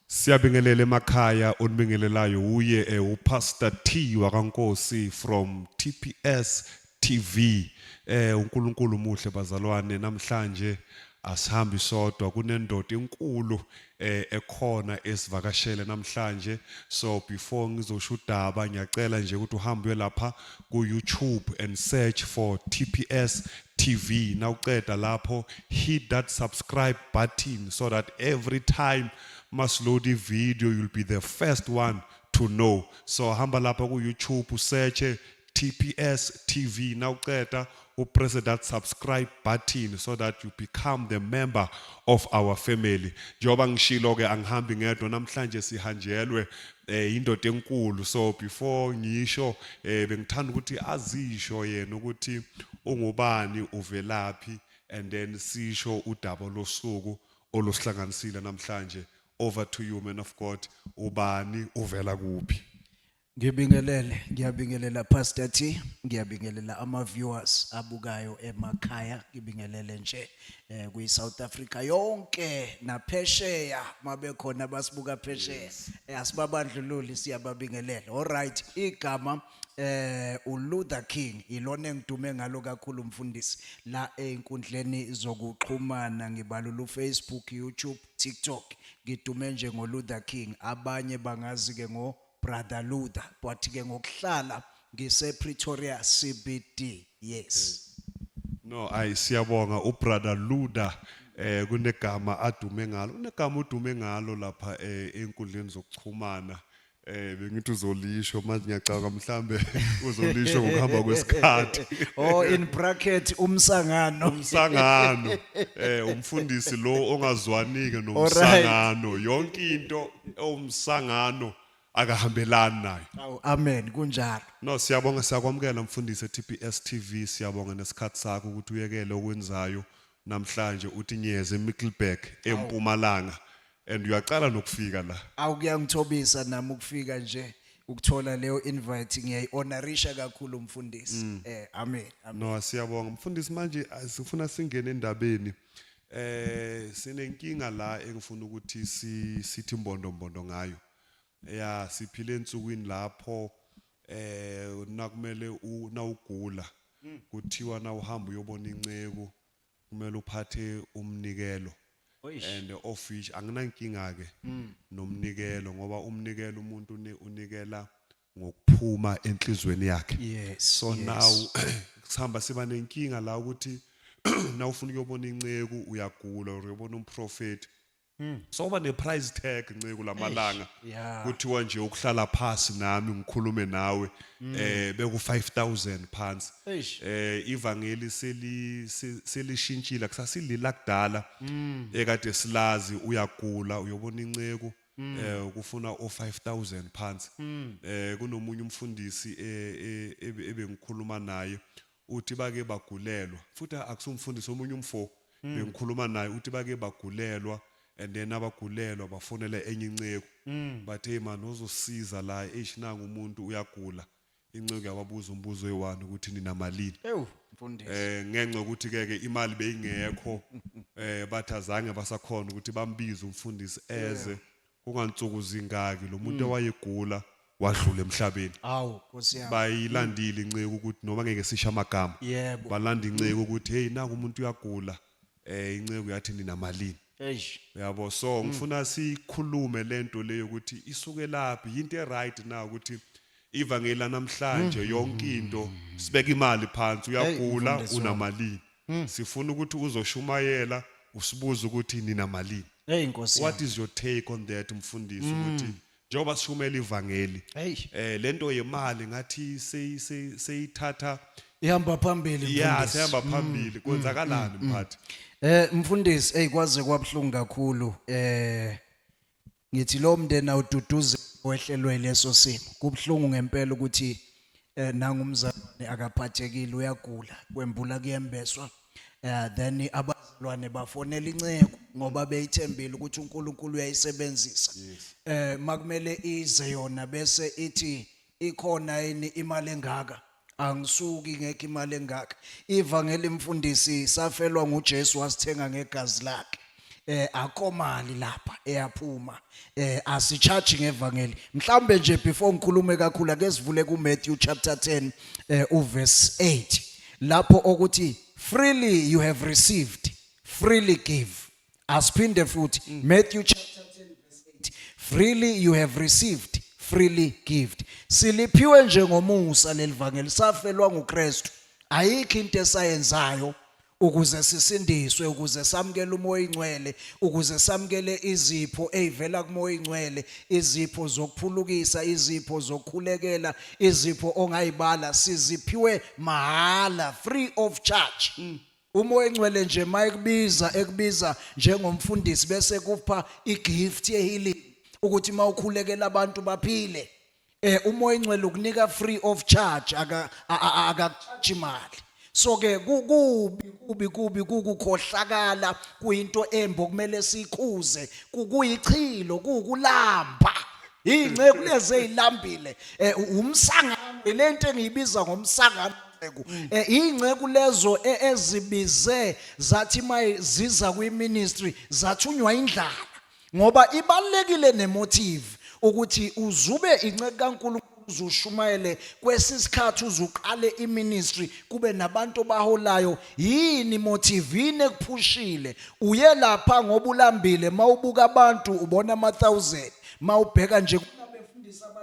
Siyabingelela emakhaya onibingelelayo uye eh, uPastor T wakaNkosi from TPS TV eh uNkulunkulu muhle bazalwane namhlanje asihambi sodwa kunendoda enkulu eh ekhona esivakashele namhlanje so before ngizosho udaba ngiyacela nje ukuthi uhambe lapha ku YouTube and search for TPS TV nawuceda lapho hit that subscribe button so that every time masiload video you'll be the first one to know so hamba lapha ku YouTube usearch TPS TV nawuceda upress that subscribe button so that you become the member of our family njengoba ngishilo ke angihambi ngedwa namhlanje sihanjelwe eh indoda enkulu so before ngisho eh bengithanda ukuthi azisho yena ukuthi ungubani uvelaphi and then sisho udaba losuku oluhlanganisile namhlanje over to you man of god ubani uvela kuphi Ngibingelele, ngiyabingelela Pastor T, ngiyabingelela ama viewers abukayo emakhaya, ngibingelele nje. eh kuyi South Africa yonke naphesheya mabekhona abasibuka phesheya eh, asibabandlululi siyababingelela all right igama eh uLuther King ilona engidume ngalo kakhulu mfundisi la einkundleni zokuxhumana ngibalula uFacebook YouTube TikTok ngidume nje ngoLuther King abanye bangazi ke ngo brother Luther but ke ngokuhlala ngise Pretoria CBD yes no ayi siyabonga u brother Luther eh kunegama adume ngalo unegama udume ngalo lapha eh, enkundleni zokuxhumana Eh bengithi uzolisho manje ngiyacabanga mhlambe uzolisho ngokuhamba kwesikhathi. Oh in bracket umsangano. Umsangano eh umfundisi lo ongazwanike nomsangano yonke into ewumsangano akahambelani nayo Awu amen kunjalo. no siyabonga siyakwamukela mfundisi e-tps tv siyabonga nesikhathi sakho ukuthi uyekele okwenzayo namhlanje uthi nyeze emickelberg empumalanga and uyaqala nokufika la Awu kuyangithobisa nami ukufika nje ukuthola leyo invite ngiyayihonorisha kakhulu mfundisi. Eh amen. amen. no siyabonga mfundisi manje ah, sifuna singene endabeni Eh sinenkinga la engifuna ukuthi si sithi mbondo mbondo ngayo. Ya siphile ensukwini lapho eh nakumele una ugula hmm. kuthiwa na uhamba uyobona inceku kumele uphathe umnikelo and of which anginankinga ke hmm. nomnikelo ngoba umnikelo umuntu unikela ngokuphuma enhlizweni yakhe yes so yes. now sihamba siba nenkinga la ukuthi na ufuna ukuyobona inceku uyagula or uyobona umprofeti hmm. so uba ne-price tag nceku lamalanga kuthiwa nje ukuhlala phasi nami ngikhulume nawe hmm. eh beku-5000 phansi eh ivangeli selishintshile kusasilila kudala hmm. ekade silazi uyagula uyobona inceku Mm. eh kufuna o 5000 phansi mm. eh kunomunye umfundisi eh, eh, eh, ebengikhuluma naye uthi bake bagulelwa futhi akusumfundisi omunye umfo mm. bengikhuluma naye uthi bake bagulelwa and then abagulelwa bafonela enye inceku bathe man uzosiza la eish nangu umuntu uyagula inceku yababuza umbuzo oyi-one ukuthi ninamalini ewu mfundisi eh ngenxa yokuthi ke ke imali beyingekho eh bathi azange basakhona ukuthi bambize umfundisi eze kungansuku zingaki lo muntu owayegula wadlula emhlabeni awu nkosi yami bayilandile inceku ukuthi noma ngeke sisha amagama yebo balanda inceku ukuthi hey naku umuntu uyagula eh inceku yathi ninamalini eish uyabo so ngifuna sikhulume lento leyo ukuthi isuke laphi yinto eright na ukuthi ivangeli namhlanje yonke into sibeka imali phansi uyagula mfundisi wami. unamalini sifuna ukuthi uzoshumayela usibuze ukuthi ninamalini hey inkosi what yami. is your take on that mfundisi ukuthi njengoba sishumela ivangeli Hey. eh lento yemali ngathi seyi- seyi- seyithatha ihamba phambili ya mfundisi. sehamba phambili kwenzakalani mphathi Eh mfundisi hey kwaze kwabuhlungu kakhulu eh ngithi lo mndeni awududuze wehlelwe leso simo kubuhlungu ngempela ukuthi eh nangu umzalwane akaphathekile uyagula kwembula kuyembeswa eh then abazalwane bafonela inceku ngoba beyithembile ukuthi uNkulunkulu uyayisebenzisa eh makumele ize yona bese ithi ikhona yini imali engaka angisuki ngeke imali engaka ivangeli mfundisi safelwa nguJesu wasithenga ngegazi lakhe eh akomali lapha eyaphuma eh asicharge ngevangeli mhlambe nje before ngikhulume kakhulu ake sivule ku Matthew chapter 10 eh uverse 8 lapho okuthi freely you have received freely give asiphinde futhi mm. Matthew chapter 10 verse 8 freely you have received freely give siliphiwe nje ngomusa lelivangeli safelwa nguKristu ayikho into esayenzayo ukuze sisindiswe ukuze samukele umoya oyingcwele ukuze samukele izipho ezivela kumoya oyingcwele izipho zokuphulukisa izipho zokukhulekela izipho ongayibala siziphiwe mahhala free of charge mm. umoya oyingcwele nje mayekubiza ekubiza njengomfundisi bese kupha igift yehealing ukuthi mawukhulekela abantu baphile eh umoya ingcwele ukunika free of charge aka a- a- akakucharge imali so ke ku- kubi kubi kubi kukukhohlakala kuyinto embi okumele sikuze ku- kuyichilo kukulamba inceku lezi ezilambile eh u- umsangano lento engiyibiza ngomsangano inceku. Eh, inceku lezo e- ezibize zathi maye ziza kwiministry zathunywa indlala ngoba ibalekile nemotive ukuthi uzube inceke kaNkulunkulu uzushumayele kwesisikhathi uzuqale iministry kube nabantu obaholayo yini motivine kuphushile uye lapha ngoba ulambile mawubuka abantu ubona ama thousand mawubheka nje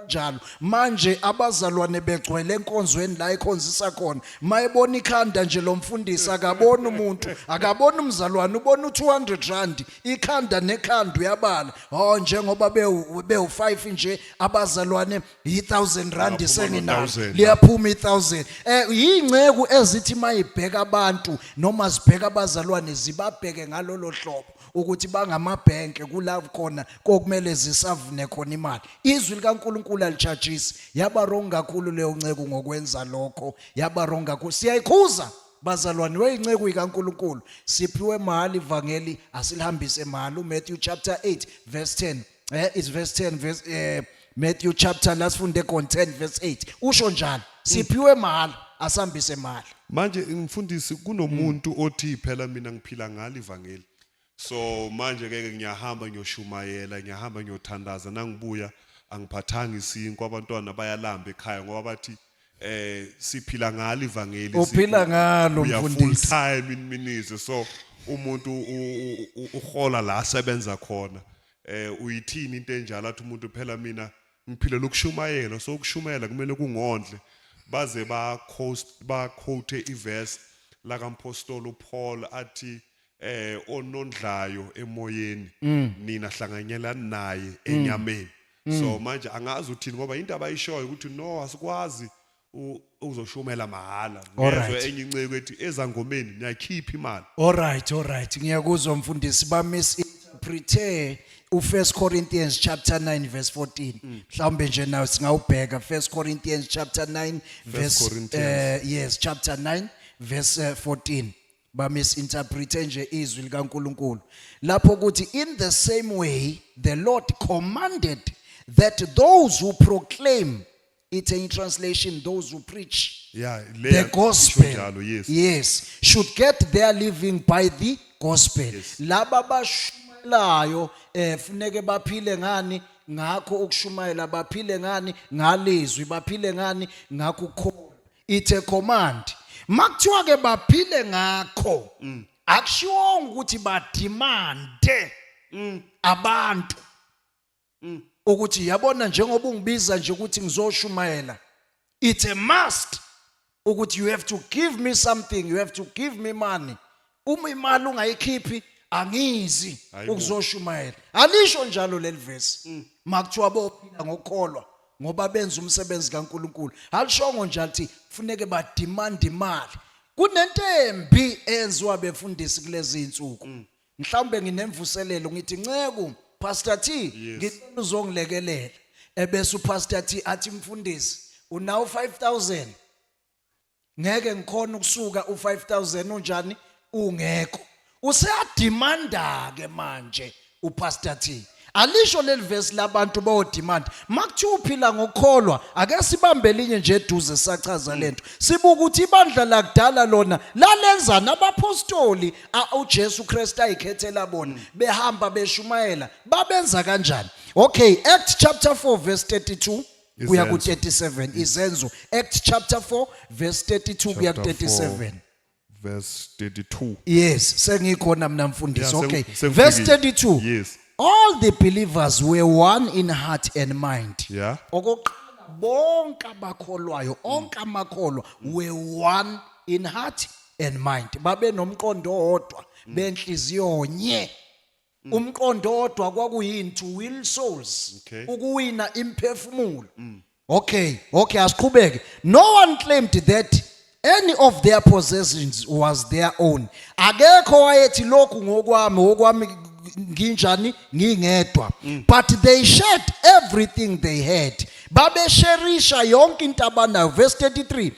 njalo manje abazalwane begcwele enkonzweni la ekhonzisa khona mayebona ikhanda nje lo mfundisi akaboni umuntu akaboni umzalwane ubona u200 rand ikhanda nekhanda uyabala oh njengoba bewu bewu 5 nje abazalwane yi 1000 rand Liyaphuma senginalo no 1000. liyaphuma i 1000 eh yinceku ezithi mayibheka abantu noma zibheka abazalwane zibabheke ngalolo hlobo ukuthi bangamabhenke kula khona kokumele zisavune khona imali izwi likaNkuluNkulu alichajisi yaba wrong kakhulu leyo nceku ngokwenza lokho yaba wrong kakhulu siyayikhuza Bazalwane weyinceku ikaNkuluNkulu siphiwe mahali ivangeli asilihambise mahali uMatthew chapter 8 verse 10 eh is verse 10 verse eh Matthew chapter last funde kon 10 verse 8 usho njalo siphiwe mahali asambise mahali manje ngimfundisi kunomuntu othi phela mina ngiphila ngalo ivangeli so manje ke ngiyahamba ngiyoshumayela ngiyahamba ngiyothandaza nangibuya angiphathanga isinkwa abantwana bayalamba ekhaya ngoba bathi eh siphila ngalo ivangeli uphila ngalo full mfundisi time in ministry so umuntu u- u- u- uhola la asebenza khona eh uyithini into enjalo athi umuntu phela mina ngiphilela ukushumayela so ukushumayela kumele kungondle baze ba coast ba quote iverse lakampostoli uPaul athi eh onondlayo emoyeni mm. nina hlanganyela naye mm. enyameni mm. so manje angazi uthini ngoba into abayishoyo ukuthi no asikwazi uzoshumela mahala ngezwe enye inceke ethi ezangomeni niyakhipha imali all right all right ngiyakuzwa mfundisi ba misinterprete u1 Corinthians chapter 9 verse 14 mhlawumbe nje nawe singawubheka 1 Corinthians chapter 9 verse uh, yes chapter 9 verse 14 eh, ba misinterprete nje izwi likaNkuluNkulu lapho ukuthi in the same way the Lord commanded that those who proclaim it's a translation those who preach yeah the gospel njalo, yes. yes should get their living by the gospel yes. laba bashumayelayo eh funeke baphile ngani ngakho ukushumayela baphile ngani ngalizwi baphile ngani ngakho it's a command makuthiwa ke baphile ngakho mm. akushiwonga ukuthi badimande mm. abantu mm. ukuthi yabona njengoba ungibiza nje ukuthi ngizoshumayela it's a must ukuthi you have to give me something you have to give me money uma imali ungayikhiphi angizi Hayibo. ukuzoshumayela alisho njalo leli vesi makuthiwa bophila ngokukholwa ngoba benza umsebenzi kaNkuluNkulu alishongo nje athi kufuneke badimande imali kunento embi eyenziwa befundisi kulezi insuku mhlawumbe nginemvuselelo ngithi nceku pastor T Yes. ngicela uzongilekelela ebese upastor T athi mfundisi unawo 5000 ngeke ngikhona ukusuka u5000 unjani ungekho useyademanda ke manje upastor T alisho lelivesi labantu bo demand makuthi uphila ngokukholwa ake sibambe linye nje eduze sachaza lento sibuka ukuthi ibandla lakudala lona lalenza nabapostoli uJesu Kristu ayikhethela bona behamba beshumayela babenza kanjani okay act chapter 4 verse 32 kuya ku 37 izenzo Acts chapter 4 verse 32 kuya ku 37 verse 32 yes sengikhona mina mfundisi okay verse 32 yes all the believers were one in heart and mind yeah okokuqala bonke abakholwayo onke amakholwa were one in heart and mind babe nomqondo owodwa benhliziyo nye Mm. umqondo odwa kwakuyini to will souls Okay. Mm. ukuwina imphefumulo okay okay asiqhubeke no one claimed that any of their possessions was their own akekho wayethi lokhu ngokwami okwami nginjani ngingedwa Mm. but they shared everything they had babesherisha yonke into abanayo verse 33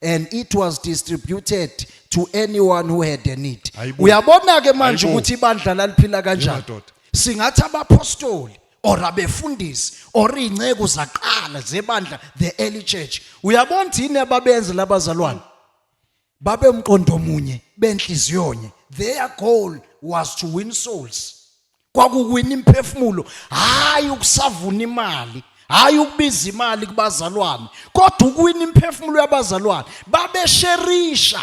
and it was distributed to anyone who had a need Hayibo. uyabona ke manje Hayibo. ukuthi ibandla laliphila kanjani Yemadoda. singathi abapostoli or abefundisi or inceku zaqala zebandla the early church uyabona ukuthi yini ababenze labazalwane babemqondo munye benhliziyonye their goal was to win souls kwakuwina imphefumulo hayi ukusavuna imali hayi ukubiza imali kubazalwane kodwa ukuwina imphefumulo yabazalwane babesherisha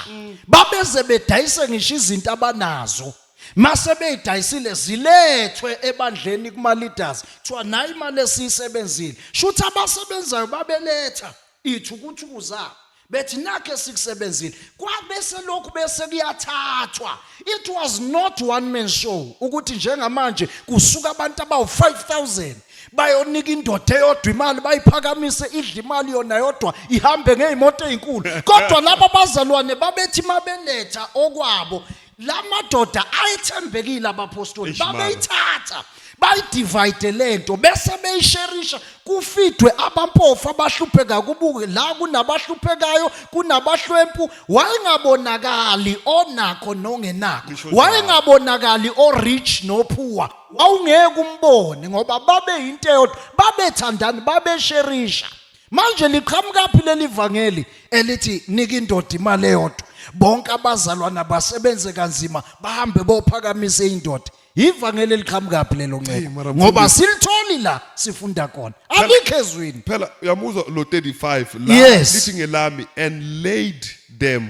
babeze bedayise ngisho izinto abanazo mase beyidayisile zilethwe ebandleni kuma leaders kuthiwa nayi imali esiyisebenzile shuthi abasebenzayo babeletha ithu ukuthi kuza bethi nakhe sikusebenzile kwabe selokhu bese kuyathathwa it was not one man show ukuthi njengamanje kusuka abantu abawu-5000 bayonika indoda eyodwa imali bayiphakamise idla imali yona yodwa ihambe ngey'moto ey'nkulu kodwa laba bazalwane babethi uma beletha okwabo la madoda ayethembekile abapostoli Eish, mara. babeyithatha bayidivide le nto bese beyisherisha kufidwe abampofu abahlupheka kubuke la kunabahluphekayo kunabahlwempu wayengabonakali onakho nongenakho Ngisho njalo. wayengabonakali o-rich nophuwa wawungeke umbone ngoba babeyinto eyodwa babethandani babesherisha Manje liqhamukaphi leli vangeli elithi nika indoda imali eyodwa. Bonke abazalwana basebenze kanzima bahambe bophakamisa indoda. Ivangeli eliqhamukaphi lelo Hey, nceku. mara Ngoba mfundisi. silitholi la sifunda khona. Alikho ezwini. phela uyamuzwa lo 35 la Yes. lithi ngelami and laid them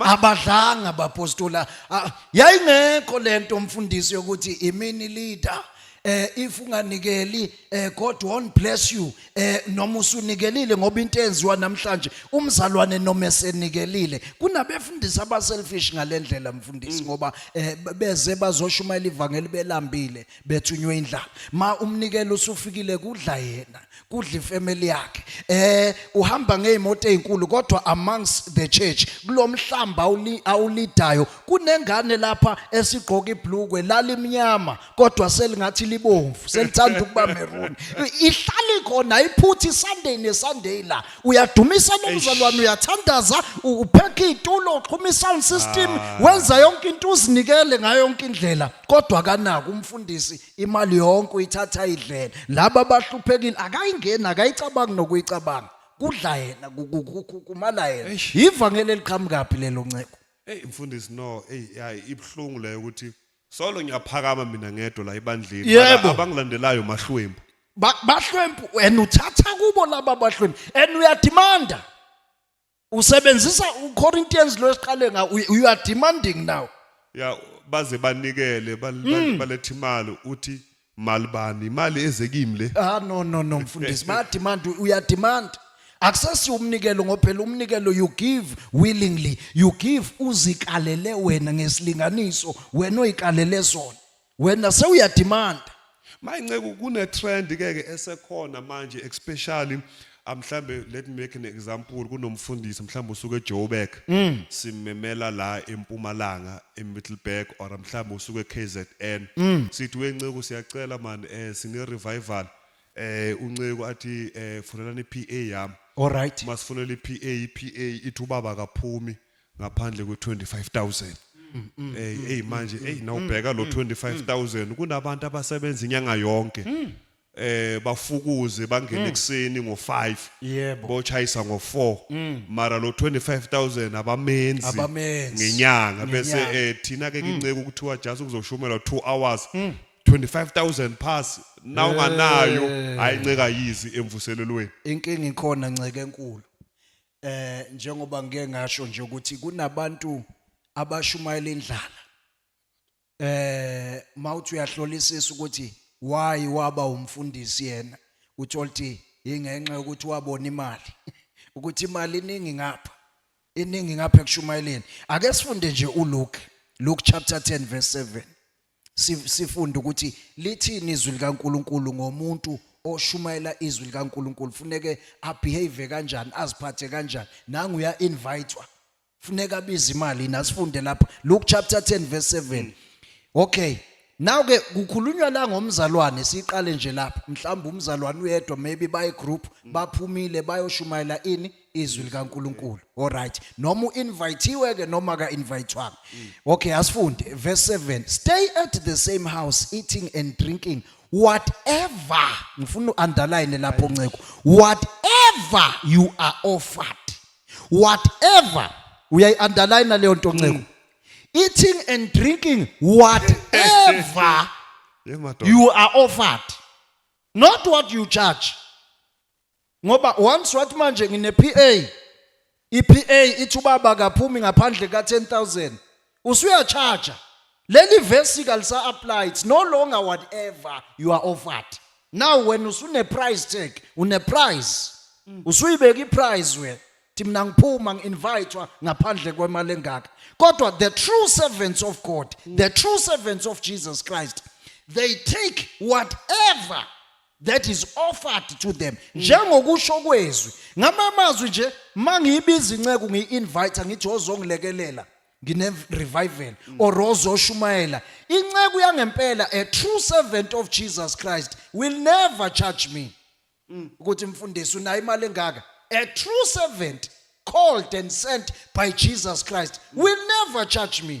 abadlanga bapostola ah, yayingekho lento mfundisi yokuthi imini leader eh if unganikeli eh God won't bless you eh noma usunikelile ngoba into enziwa namhlanje umzalwane noma esenikelile kunabefundisi aba selfish ngalendlela mfundisi mm. ngoba eh, beze bazoshumayela ivangeli belambile bethunywe indlala ma umnikelo usufikile kudla yena kudla ifamily yakhe eh uhamba ngeemoto ezinkulu kodwa amongst the church kulomhlamba awulidayo kunengane lapha esigqoka iblukwe lalimnyama kodwa selingathi libomvu selithanda ukuba maroon ihlali khona iphuthi sunday nesunday la uyadumisa nomzalwane uyathandaza uphekha itulo uxhuma isound system ah. wenza yonke into uzinikele ngayo yonke indlela kodwa kanaka umfundisi imali yonke uyithatha idlele laba abahluphekile akayingeni akayicabangi nokuyicabanga kudla yena kumala yena ivangeli eliqhamukaphi lelo nceko hey mfundisi no hey hayi ibhlungu leyo ukuthi solo ngiyaphakama mina ngedwa la ebandleni Yebo. abangilandelayo mahlwembu Ba- bahlwempu and uthatha kubo laba bahlwempu and uyadimanda usebenzisa uCorinthians lo esiqale nga you are demanding now ya baze banikele bal- bal- hmm. balethe imali uthi mali bani imali eze kimi le ah no no no mfundisi ba demand uya demand akusesi umnikelo ngophela umnikelo you give willingly you give uzikalele wena ngesilinganiso wena oyikalele sona wena sewuyadimanda manje nceku kune trend ke ke esekhona manje especially ah, mhlambe let me make an example kunomfundisi mhlambe usuke eJoburg Mm. simmemela la eMpumalanga eMiddleburg or mhlambe usuke eKZN Mm. sithi wenceku siyacela man eh sine revival eh unceku athi eh funelani iPA yami alright masifunela iPA iPA ithi ubaba kaphumi ngaphandle kwe 25000 hey hey manje hey nawubheka lo 25000 kunabantu abasebenza inyanga yonke eh bafukuze bangene ekseni ngo5 Yebo. bochayisa ngo4 mara lo 25000 abamenzi Abamenzi. ngenyanga bese Ngenyanga. eh thina ke inceku kuthiwa just kuzoshumela 2 hours 25000 pass na unganayo hayi nceka yizi emvuselelweni inkinga ikhona nceke enkulu eh njengoba ngike ngasho nje ukuthi kunabantu abashumayela indlala eh mawuthi uyahlolisisa ukuthi why waba umfundisi yena uthola ukuthi ingenxa yokuthi wabona imali ukuthi imali iningi ngapha iningi ngapha ekushumayeleni ake sifunde nje uLuke Luke chapter 10 verse 7 sifunda ukuthi lithini izwi likaNkuluNkulu ngomuntu oshumayela izwi likaNkuluNkulu funeke abehave kanjani aziphathe kanjani nangu uya invitwa funeka abize imali nasifunde lapha Luke chapter 10 verse 7 okay now ke kukhulunywa la ngomzalwane siqale nje lapha mhlawumbe umzalwane uyedwa maybe bayi group baphumile bayoshumayela ini izwi likaNkuluNkulu alright noma uinvitiwe ke noma ka invitewanga mm. okay asifunde verse 7 stay at the same house eating and drinking whatever ngifuna uunderline lapho nceko whatever you are offered whatever uyayiunderline leyo nto nceko mm. eating and drinking whatever you are offered not what you charge ngoba once wathi manje ngine PA iPA ithi ubaba kaphumi ngaphandle ka 10000 usuya charge leli verse kalisa apply it's no longer whatever you are offered now when usune price tag une price mm. usuyibeka iprice wena thi mina ngiphuma ngi-invitwa ngaphandle kwemali engaka kodwa the true servants of god mm. the true servants of jesus christ they take whatever that is offered to them mm. njengokusho kwezwi ngamamazwi nje mangiyibiza inceku ngiyi-invite ngithi ozongilekelela ngine-revival mm. or ozoshumayela inceku yangempela a true servant of jesus christ will never charge me mm. ukuthi mfundisi unayo imali engaka a true servant called and sent by jesus christ will never charge me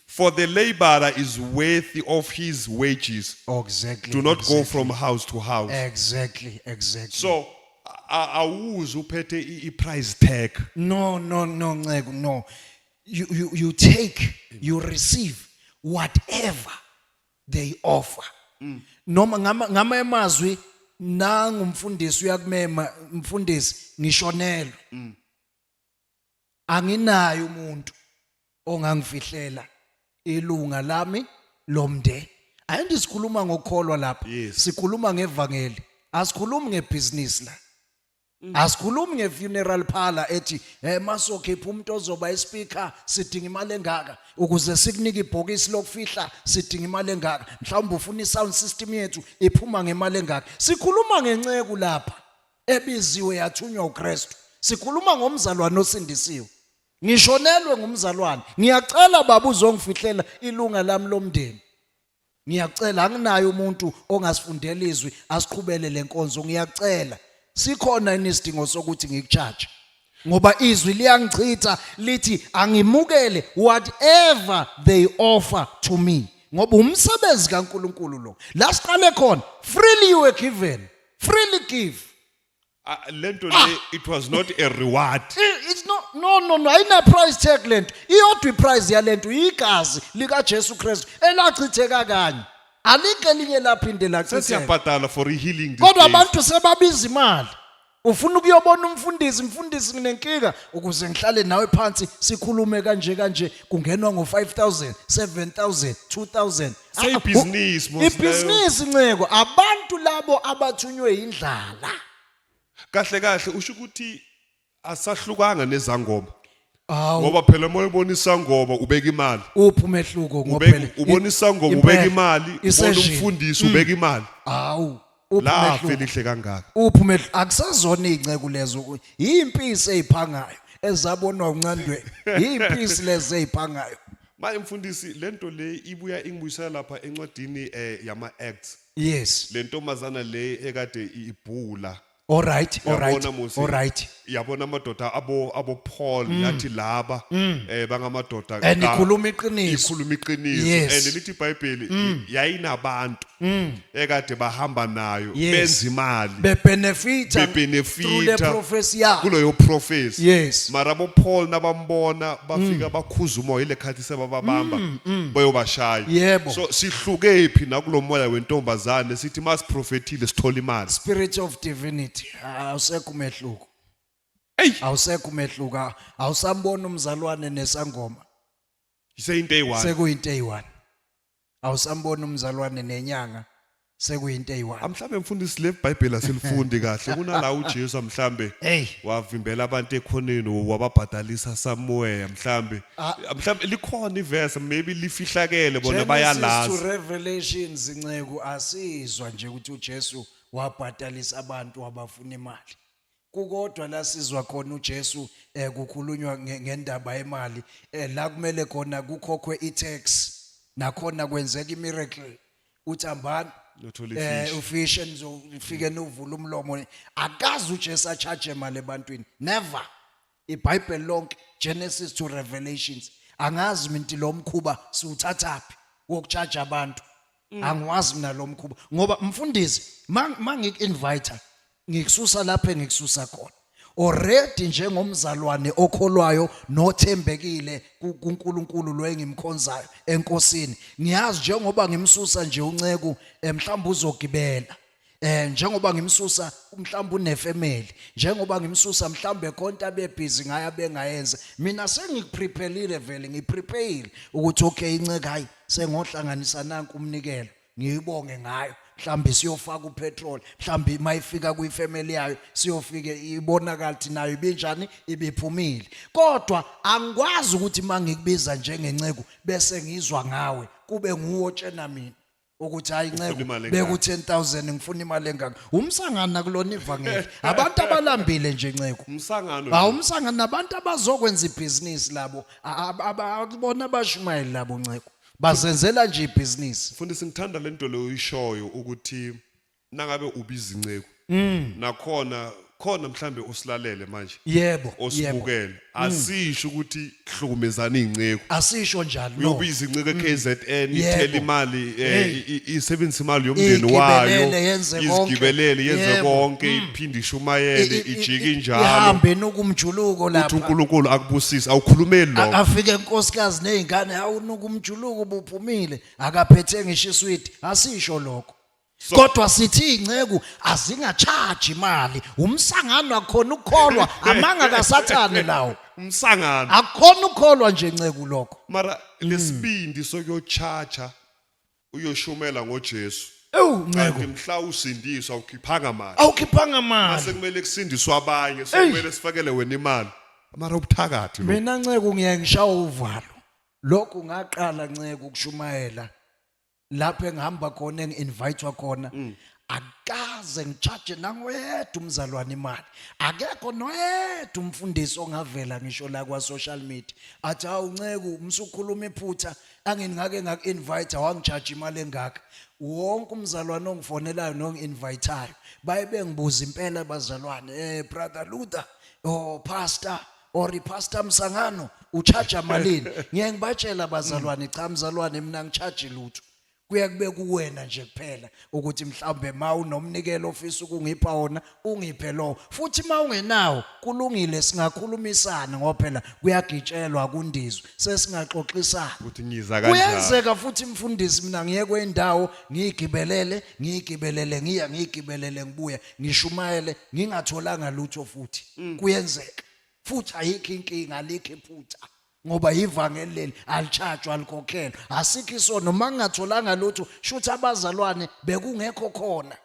For the laborer is worthy of his wages. Exactly. Do not exactly. go from house to house. Exactly, exactly. So awuzi uphethe i-price tag. No, no, no, Ncegu, no. You, you, you take, you receive whatever they offer. Mm. Noma ngama ngama emazwi nangu mfundisi uyakumema mfundisi ngishonelwe. Mm. anginayo umuntu ongangifihlela ilunga lami lomndeni ayinto sikhuluma ngokukholwa lapha Yes. sikhuluma ngevangeli asikhulumi ngebhizinisi la asikhulumi ngefuneral parlor ethi eh masokhipha umuntu ozoba ispeaker sidinga imali engaka ukuze sikunike ibhokisi lokufihla sidinga imali engaka mhlawumbe ufuna isound system yethu iphuma ngemali engaka sikhuluma ngenceku lapha ebiziwe yathunywa uKristu sikhuluma ngomzalwane osindisiwe ngishonelwe ngumzalwane ngiyacela baba uzongifihlela ilunga lami lomndeni ngiyacela anginaye umuntu ongasifundela izwi asiqhubele lenkonzo ngiyacela sikhona isidingo sokuthi ngikuchaje ngoba izwi liyangichitha lithi angimukele whatever they offer to me ngoba umsebenzi kaNkuluNkulu lo la siqale khona freely you were given freely give Ah, lento le it was not a reward I- it's no no no no ayina price tag lento iyodwa iprice yalento igazi lika Jesu Christ elachitheka kanye alike elinye laphinde lachitheka sesiyabhadala for healing these kodwa days. abantu sebabiza imali ufuna ukuyobona umfundisi mfundisi nginenkinga ukuze ngihlale nawe phansi sikhulume kanje kanje kungenwa ngo 5000 7000 2000 Seyibhizinisi boss. ibhizinisi nceko abantu labo abathunywe indlala Kahle kahle usho ukuthi asahlukanga nezangoma. awu Ngoba phela uma ubona isangoma ubeka imali. uphi umehluko Ubeka ngophela ubona isangoma ubeka imali, ubona umfundisi ubeka imali. awu Uphi lafi umehluko? elihle kangaka uphi umehlo akusazona iy'nceku lezo ku- yimpisi ey'phangayo ezabonwa uncandweni yimpisi lezi ey'phangayo manje mfundisi le nto le ibuya ingibuyisela lapha encwadini um yama-acts yes le ntombazana le ekade i- ibhula oright Yabona, oright Musi. oright yabona amadoda abo abo Paul mm. yathi laba mm. eh bangamadoda eh, ka- enikhuluma iqiniso ikhuluma iqiniso Yes. and lithi iBhayibheli mm. yayinabantu ekade bahamba nayo Yes. benza imali bebenefita Bebenefita. through the prophecy yakho kuloyo prophecy Yes. mara bo Paul nabambona bafika bakhuza umoya ile khathi sebababamba bayobashaya Yebo. so sihlukephi nakulomoya wentombazane sithi masiprofethile sithola imali spirit of divinity awusekho umehluko Ey, awusekho umehluko aw- awusamboni umzalwane nesangoma iseyinto eyi-one. sekuyinto eyi-one awusamboni umzalwane nenyanga sekuyinto eyi-one Ah, mhlambe mfundisi le bhayibheli asilifundi kahle kunala ujesu mhlambe Hey. wavimbela abantu ekhoneni wababhadalisa samuweya mhlambe Ah. mhlambe likhona ivese maybe lifihlakele bona Genesis to bayalazi revelations nceku asizwa nje ukuthi ujesu wabhadalisa abantu abafuna imali kukodwa la sizwa khona uJesu eh kukhulunywa ngendaba yemali eh la kumele khona kukhokhwe iTax nakhona kwenzeka imiracle uthambani eh ufish enizofike novula umlomo akazi uJesu acharge imali ebantwini never iBhayibheli lonke Genesis to Revelations angazi minti lo mkhuba siwuthathaphi wokujaja abantu mm. angiwazi mina lo mkhuba ngoba mfundisi mangiku-invite ngikususa lapho engikususa khona already njengomzalwane okholwayo nothembekile kuNkulunkulu lo engimkhonzayo enkosini ngiyazi njengoba ngimsusa nje unceku eh, mhlawumbe uzogibela Eh njengoba ngimsusa mhlawumbe unefamily njengoba ngimsusa mhlawumbe konta bebhizi ngaya bengayenze mina sengikuprepelile vele ngiprepare ukuthi okay inceke hayi sengohlanganisa nanku umnikelo ngiyibonge ngayo mhlambe siyofaka upetrol mhlambe mayifika kuyifamily yayo siyofike ibonakala ukuthi nayo ibinjani ibiphumile kodwa angikwazi ukuthi mangikubiza njengenceku bese ngizwa ngawe kube nguwo tshena mina ukuthi hayi Ufuna nceku imali beku engaka? 10000 ngifuna imali engaka umsangano nakulona ivangeli abantu abalambile nje nceku umsangano hawu umsangano nabantu abazokwenza ibhizinisi labo A- a- aba- akubona abashumayeli labo nceku bazenzela nje ibhizinisi mfundisi ngithanda lento leyo uyishoyo ukuthi nangabe ubiza inceku Mm. nakhona khona mhlambe usilalele manje Yebo. yebo. osibukele asisho ukuthi hlukumezana izinceku Asisho njalo. no. uyobiza inceku eKZN Yebo. ithele imali eh, Hey. i- i- isebenzisa imali yomndeni Igibelele, wayo yenze konke. izigibelele yenze Yebo. Mm. konke iphinde ishumayele I- i- ijike i- injalo Ihambe nokumjuluko uthi lapha. uNkulunkulu akubusise awukhulumeli A- lokho Afike inkosikazi nezingane awunuka umjuluko ubuphumile akaphethe ngisho iswidi asisho lokho. kodwa sithi inceku azingachaji imali umsangano akhona ukukholwa amanga kasathane lawo umsangano akhona ukukholwa nje nceku lokho mara lesibindi sokuyochacha uyoshumela ngoJesu ewu kanti nceku mhla usindiswa ukhiphanga mali awukhiphanga mali sekumele kusindiswe abanye sekumele sifakele wena imali mara ubuthakathi lo mina nceku ngiyaye ngishawa uvalo lokhu ngaqala nceku ukushumayela lapho engihamba khona engi-invitwa khona mm. akaze ngitshaje nangoyedwa umzalwane imali akekho noyedwa umfundisi ongavela ngisho la kwa-social media athi hawu nceku umsukhuluma iphutha angini ngake ngaku-invite wangijaje imali engaka wonke umzalwane ongifonelayo nongi-invithayo baye bengibuza impela bazalwane um brother luther o oh, pastor or ipastor msangano uchaja malini ngeke ngibatshela bazalwane cha mzalwane mina ngichaji lutho kuye kube kuwena nje kuphela ukuthi mhlawumbe ma unomnikelo ofisa ukungipha wona ungiphe lowo futhi ma ungenawo kulungile singakhulumisana ngoba phela kuyagitshelwa kundizwe sesingaxoxisana ukuthi ngiza kanjani kuyenzeka futhi mfundisi mina ngiye kwendawo ngiyigibelele ngiyigibelele ngiya ngiyigibelele ngibuye ngishumayele ngingatholanga lutho futhi mm. kuyenzeka futhi ayikho inkinga alikho iphutha ngoba ivangeli leli alitshajwa alikhokhelwa asikho isono uma ngingatholanga lutho shuthi abazalwane bekungekho khona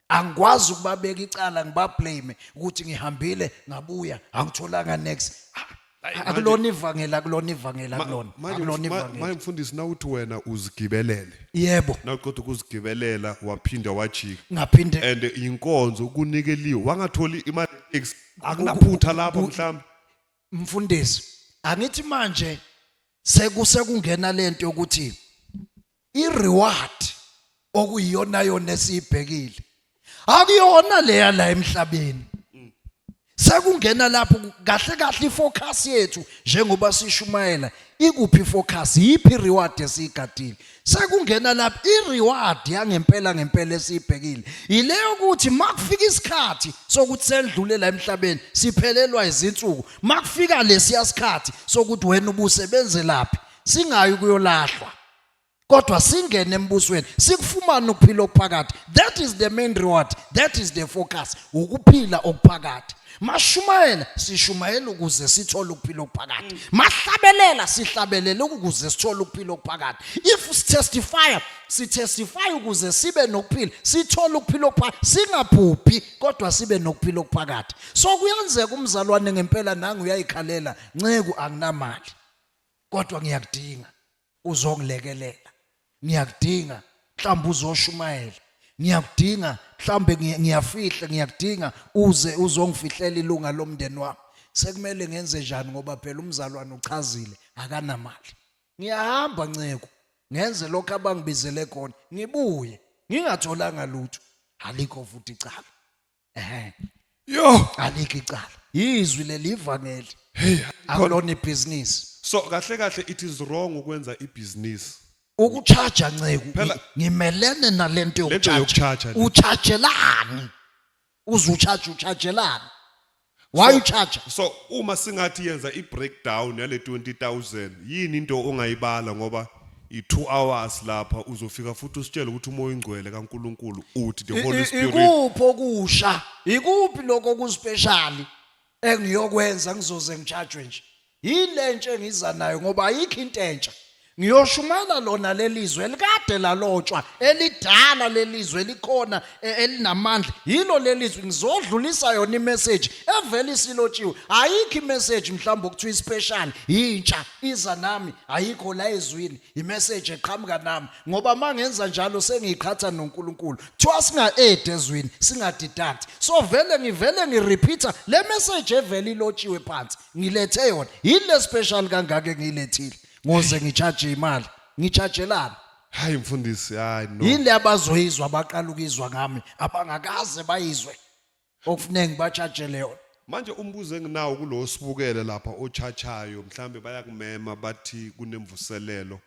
angikwazi ukubabeka icala ngibablame ukuthi ngihambile ngabuya angitholanga next ah, Ayi, manje- akulona ivangeli akulona ivangeli ma- akulona manje akulona mf- ma- manje ivangeli mfundisi nawuthi wena uzigibelele yebo nawuqeda ukuzigibelela waphinda wajika ngaphinde and inkonzo kunikeliwe wangatholi imali tax akunaphutha lapho ku- mhlawumbe mfundisi angithi manje sekuse kungena lento yokuthi I-reward okuyiyonayona esiyibhekile akuyona leya la emhlabeni sekungena lapho kahle kahle ifocus yethu njengoba sishumayela ikuphi ifocus yiphi reward esiyigadile sekungena lapho ireward yangempela ngempela esiyibhekile yileyo ukuthi makufika isikhathi sokuthi sendlule la emhlabeni siphelelwa izinsuku makufika lesiya sikhathi sokuthi wena ubusebenzelaphi singayi kuyolahlwa kodwa singene embusweni sikufumane ukuphila okuphakathi that is the main reward that is the focus ukuphila okuphakathi mashumayela sishumayela ukuze sithole ukuphila okuphakathi mahlabelela sihlabelela ukuze sithole ukuphila okuphakathi if sitestify sitestify ukuze sibe nokuphila sithole ukuphila okuphakathi singaphuphi kodwa sibe nokuphila okuphakathi so kuyenzeka umzalwane ngempela nangu uyayikhalela nceku anginamali kodwa ngiyakudinga uzongilekelela ngiyakudinga mhlawumbe uzoshumayela ngiyakudinga mhlawumbe ngiyafihla ngiyakudinga uze uzongifihlela ilunga lomndeni wami sekumele ngenze njani ngoba phela umzalwane uchazile akanamali ngiyahamba nceku ngenze lokho abangibizele khona ngibuye ngingatholanga lutho alikho futhi icala ehe yo alikho icala yizwi leli ivangeli hey akulona ibhizinisi so kahle kahle it is wrong ukwenza ibhizinisi ukuchaja nceku Phela- ngimelene nalento Lento yokuchaja yokuchaja le. uchajelani uze uchaje uchajelani why so, uchaja so uma singathi yenza i-breakdown yale 20000 yini into ongayibala ngoba i-2 hours lapha uzofika futhi usitshele ukuthi umoya oyingcwele kaNkuluNkulu uthi the holy spirit ikuphi okusha ikuphi lokho okuspecial engiyokwenza ngizoze ngijajwe nje Yile ntshe ngiza nayo ngoba ayikho into entsha. Ngiyoshumayela lona lelizwe elikade lalotshwa, elidala lelizwe elikhona e, elinamandla. Yilo lelizwe ngizodlulisa yona imessage evela isilotshiwe. Ayikho imessage mhlawumbe okuthiwa ispecial yintsha iza nami ayikho la ezwini. Imessage eqhamuka nami ngoba mangenza njalo sengiqhatha noNkulunkulu. Kuthiwa singa add ezwini, singa deduct. So vele ngivele ngirepeater le message evela ilotshiwe phansi. ngilethe yona yini le special kangaka engiyilethile ngoze ngicharge imali ngichargelana hayi mfundisi hayi no yini le abazoyizwa abaqala ukuyizwa ngami abangakaze bayizwe okufuneka ngibachargele yona manje umbuzo enginawo kulo sibukele lapha ochachayo mhlambe bayakumema bathi kunemvuselelo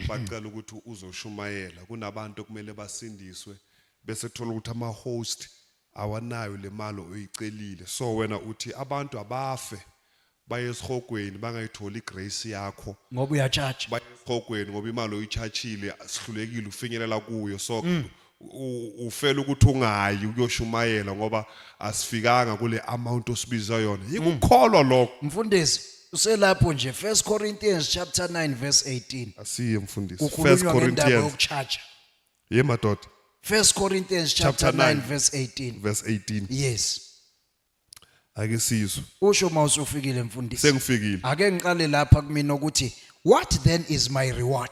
bacela ukuthi uzoshumayela kunabantu okumele basindiswe bese thola ukuthi ama host awanayo lemali oyicelile so wena uthi abantu abafe baye esihogweni bangayitholi igrace yakho ngoba uyatshatsha baye esihogweni ngoba imali oyichachile sihlulekile ufinyelela kuyo so mm. ufela ukuthi ungayi ukuyoshumayela ngoba asifikanga kule amount osibiza yona yikukholwa lokho mfundisi uselapho nje 1 Corinthians chapter 9 verse 18 asiye mfundisi 1 kukhulunywa ngendaba Corinthians yokuchaja ye madoda 1 Corinthians chapter Chapter 9 nine. verse 18 verse 18 yes ake sizwe usho uma usufikile mfundisi sengifikile ake ngiqale lapha kumina ukuthi what then is my reward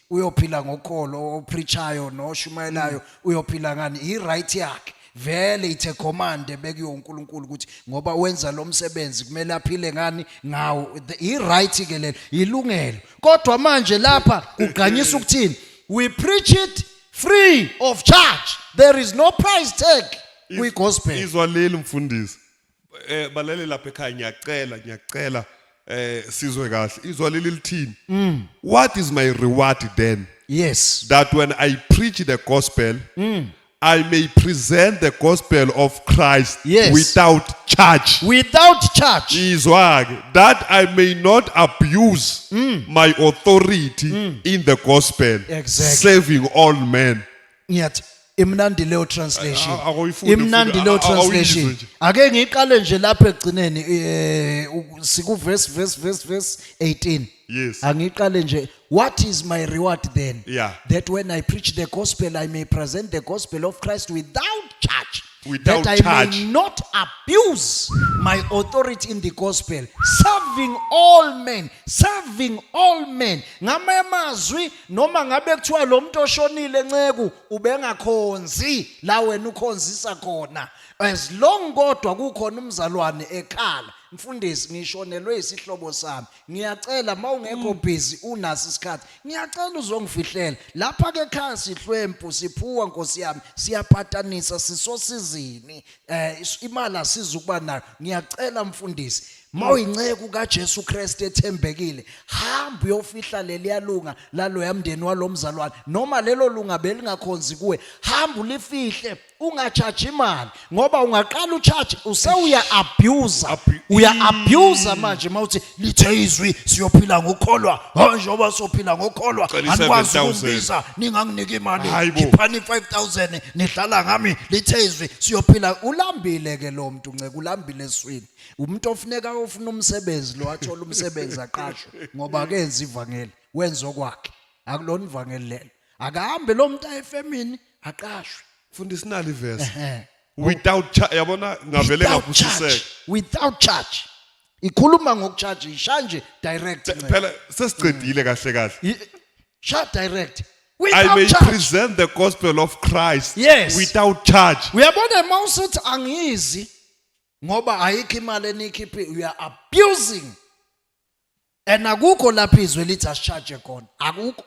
uyophila ngokholo opreachayo noshumayelayo mm. uyophila ngani i right yakhe vele ithe command ebekuyo uNkulunkulu ukuthi ngoba wenza lo msebenzi kumele aphile ngani ngawo i right ke lelo ilungelo kodwa manje lapha kugqanyisa ukuthini we preach it free of charge there is no price tag kwi gospel izwa leli mfundisi eh balele lapha ekhaya ngiyacela ngiyacela eh sizwe kahle izwa leli lithini mm. what is my reward then yes that when i preach the gospel mm. I may present the gospel of Christ yes. without charge. Without charge. Izwag, that I may not abuse mm. my authority mm. in the gospel, exactly. saving all men. ngiyathi imnandi leyo translation A- a- awuyifunde imnandi futhi, leyo a- a- awuyizwe translation nje. ake ngiqale nje lapha ekugcineni eh u- siku verse verse verse verse 18 Yes. angiqale nje what is my reward then Yeah. that when i preach the gospel i may present the gospel of christ without charge Without that i charge. may not abuse my authority in the gospel serving all men serving all men ngamanye amazwi noma ngabe kuthiwa lo muntu oshonile nceku ubengakhonzi la wena ukhonzisa khona as long kodwa kukhona umzalwane ekhala mfundisi ngishonelwe isihlobo sami ngiyacela mawungekho mm. busy unaso isikhathi ngiyacela uzongifihlela lapha ke ekhaya sihlwempu siphuwa nkosi yami siyapatanisa sisosizini eh is- imali asiza ukuba nayo ngiyacela mfundisi mawuyinceku kaJesu Kristu ethembekile hamba uyofihla leliyalunga laloya mndeni walomzalwane noma lelo lunga belingakhonzi kuwe hamba ulifihle ungachaji imali ngoba ungaqala uchaji usewuya abuser Abu- uya abuser manje mawuthi lithe izwi siyophila ngokholwa hayi njengoba sophila ngokholwa Cela anikwazi 7,000. ukungibiza ninganginiki imali Hayi bo. khiphani 5000 nidlala ngami lithe izwi siyophila ulambile ke lo muntu nceke ulambile eswini umuntu ofuneka ofuna umsebenzi lo athola umsebenzi aqashwe ngoba akenzi ivangeli wenza okwakhe akulona ivangeli lelo akahambe lo muntu ayefemini aqashwe Fundi sinali iverse. Ehe. Without charge yabona ngavele without charge ngapusiseka. without charge ikhuluma ngokucharge isha nje direct Nceba. phela sesiqedile kahle kahle I- sha direct I without may charge present the gospel of Christ Yes. without charge uyabona uma usuthi angizi ngoba ayikho imali enikhiphi you are abusing and akukho lapho izwe lithi asicharge khona akukho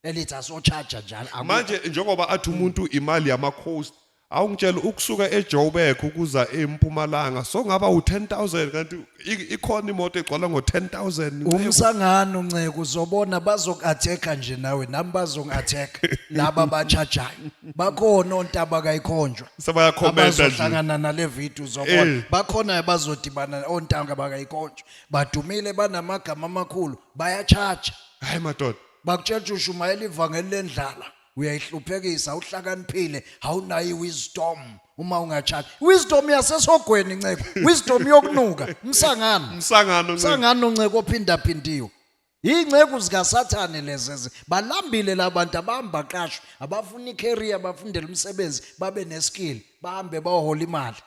elithi asochaja njalo akukho- manje njengoba athi umuntu imali yamacoast awungitshela ukusuka ejoburg ukuza empumalanga songaba u-10000 kanti i- ikhona imoto egcwala ngo-10000 umsangano nceku uzobona bazoku-attack-a nje nawe nami bazongi-attack laba bachajayo bakhona ontaba kayikhonjwa sebayakhomenta nje abazohlangana nale video uzobona Eh. bakhona abazodibana ontanga bakayikonjwa badumile banamagama amakhulu bayachaja hayi madoda bakutshela ukuthi ushumayela ivangeli lendlala uyayihluphekisa uhlakaniphile awunayo iwisdom uma ungatshali wisdom yasesogweni nceko wisdom yokunuka umsangano umsangano umsangano nceko ophindaphindiwe Ingceku zikaSathane lezi balambile labantu abahamba qashwe abafuna icareer bafundela umsebenzi babe neskill bahambe bahola imali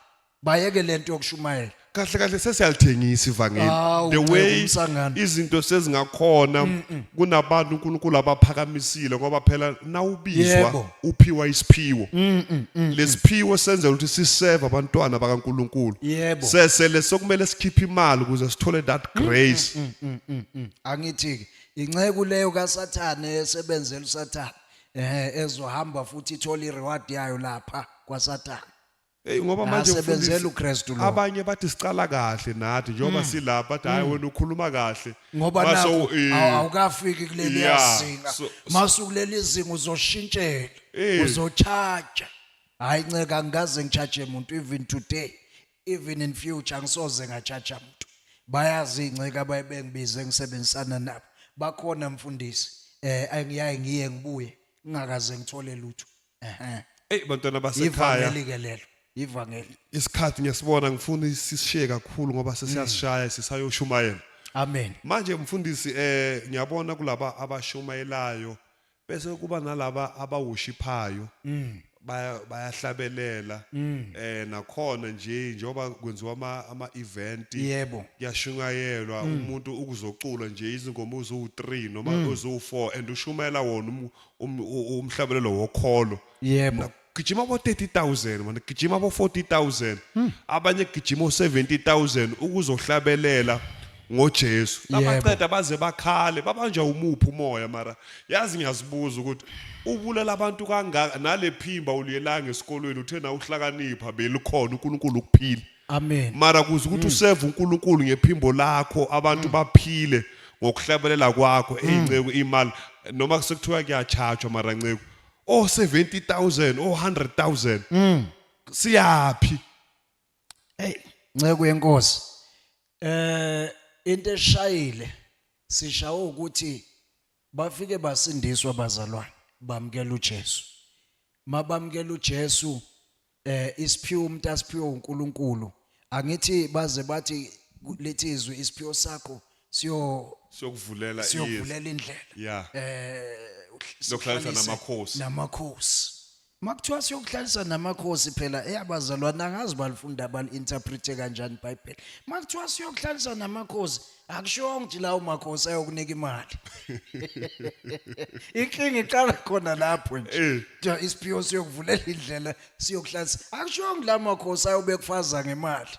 bayeke lento yokushumayela kahle kahle sesiyalithengisa ivangeli Hawu, the nceku, way umsangano. izinto sezingakhona kunabantu uNkulunkulu abaphakamisile ngoba phela nawubizwa Yebo. uphiwa isiphiwo lesiphiwo senzela ukuthi siseve abantwana bakaNkulunkulu Yebo. sese lesokumele sikhiphe imali ukuze sithole that grace angithi ke inceku leyo kaSathane esebenzela uSathane eh ezohamba futhi ithola ireward yayo lapha kwaSathane Hey ngoba manje sebenzela uKristu lo. Abanye bathi siqala kahle nathi njengoba mm. sila bathi hayi mm. wena ukhuluma kahle. Ngoba nawo eh, awukafiki kuleli yasinga. Masukuleli izinga uzoshintshela. Eh. Uzochaja. Hayi nceka ngikaze ngichaje umuntu even today even in future ngisoze ngachaja umuntu. Bayazi inceka abayibengibize ngisebenzisana nabo. Bakhona mfundisi eh angiyaye ngiye ngibuye ngingakaze ngithole lutho. ehe eyi bantwana basekhaya ivangeli ke lelo ivangeli isikhathi ngiyasibona ngifuna isishiye kakhulu ngoba sesiyasishaya sisayoshumayela amen manje mfundisi eh ngiyabona kulaba abashumayelayo bese kuba nalaba abawushiphayo baya- bayahlabelela eh nakhona nje njengoba kwenziwa ama ama event Yebo. kuyashungayelwa umuntu ukuzocula nje izingoma uzu3 noma uzu4 and ushumayela wona umu- um- u- u- umhlabelelo wokholo Yebo. Mina gijima bo 30000 manje gijima bo 40000 Hmm. abanye gijima o 70000 ukuzohlabelela ngoJesu Yebo. abaqeda baze bakhale babanjwa umuphi umoya mara yazi ngiyazibuza ukuthi ubulala abantu kangaka nalephimba uliyelanga esikolweni uthe na uhlakanipha belikhona uNkulunkulu ukuphila Amen. Mara kuze ukuthi useve uNkulunkulu ngephimbo lakho abantu baphile ngokuhlabelela kwakho eyinceku imali noma kusekuthiwa kuyachatshwa mara nceku oh 70000 oh 100000 siyaphi Hey, nceku yenkosi. Eh into eshayile sishawo ukuthi bafike basindiswa bazalwane bamkela uJesu. Mabamkela uJesu eh isiphiwo umuntu asiphiwo uNkulunkulu angithi baze bathi lethi izwi isiphiwo sakho siyo siyokuvulela izwi siyovulela indlela yeah eh Siyokuhlalisa sihlalise namakhosi. namakhosi makuthiwa siyokuhlalisa namakhosi phela eyabazalwane angazi balifunda bali-interprete kanjani ibhayibheli makuthiwa siyokuhlalisa namakhosi akushongo nje lawo makhosi ayokunika imali inkinga iqala khona lapho nje Eh. ja isiphiwo siyokuvulela indlela siyokuhlanza akushongo la makhosi ayobe kufaza ngemali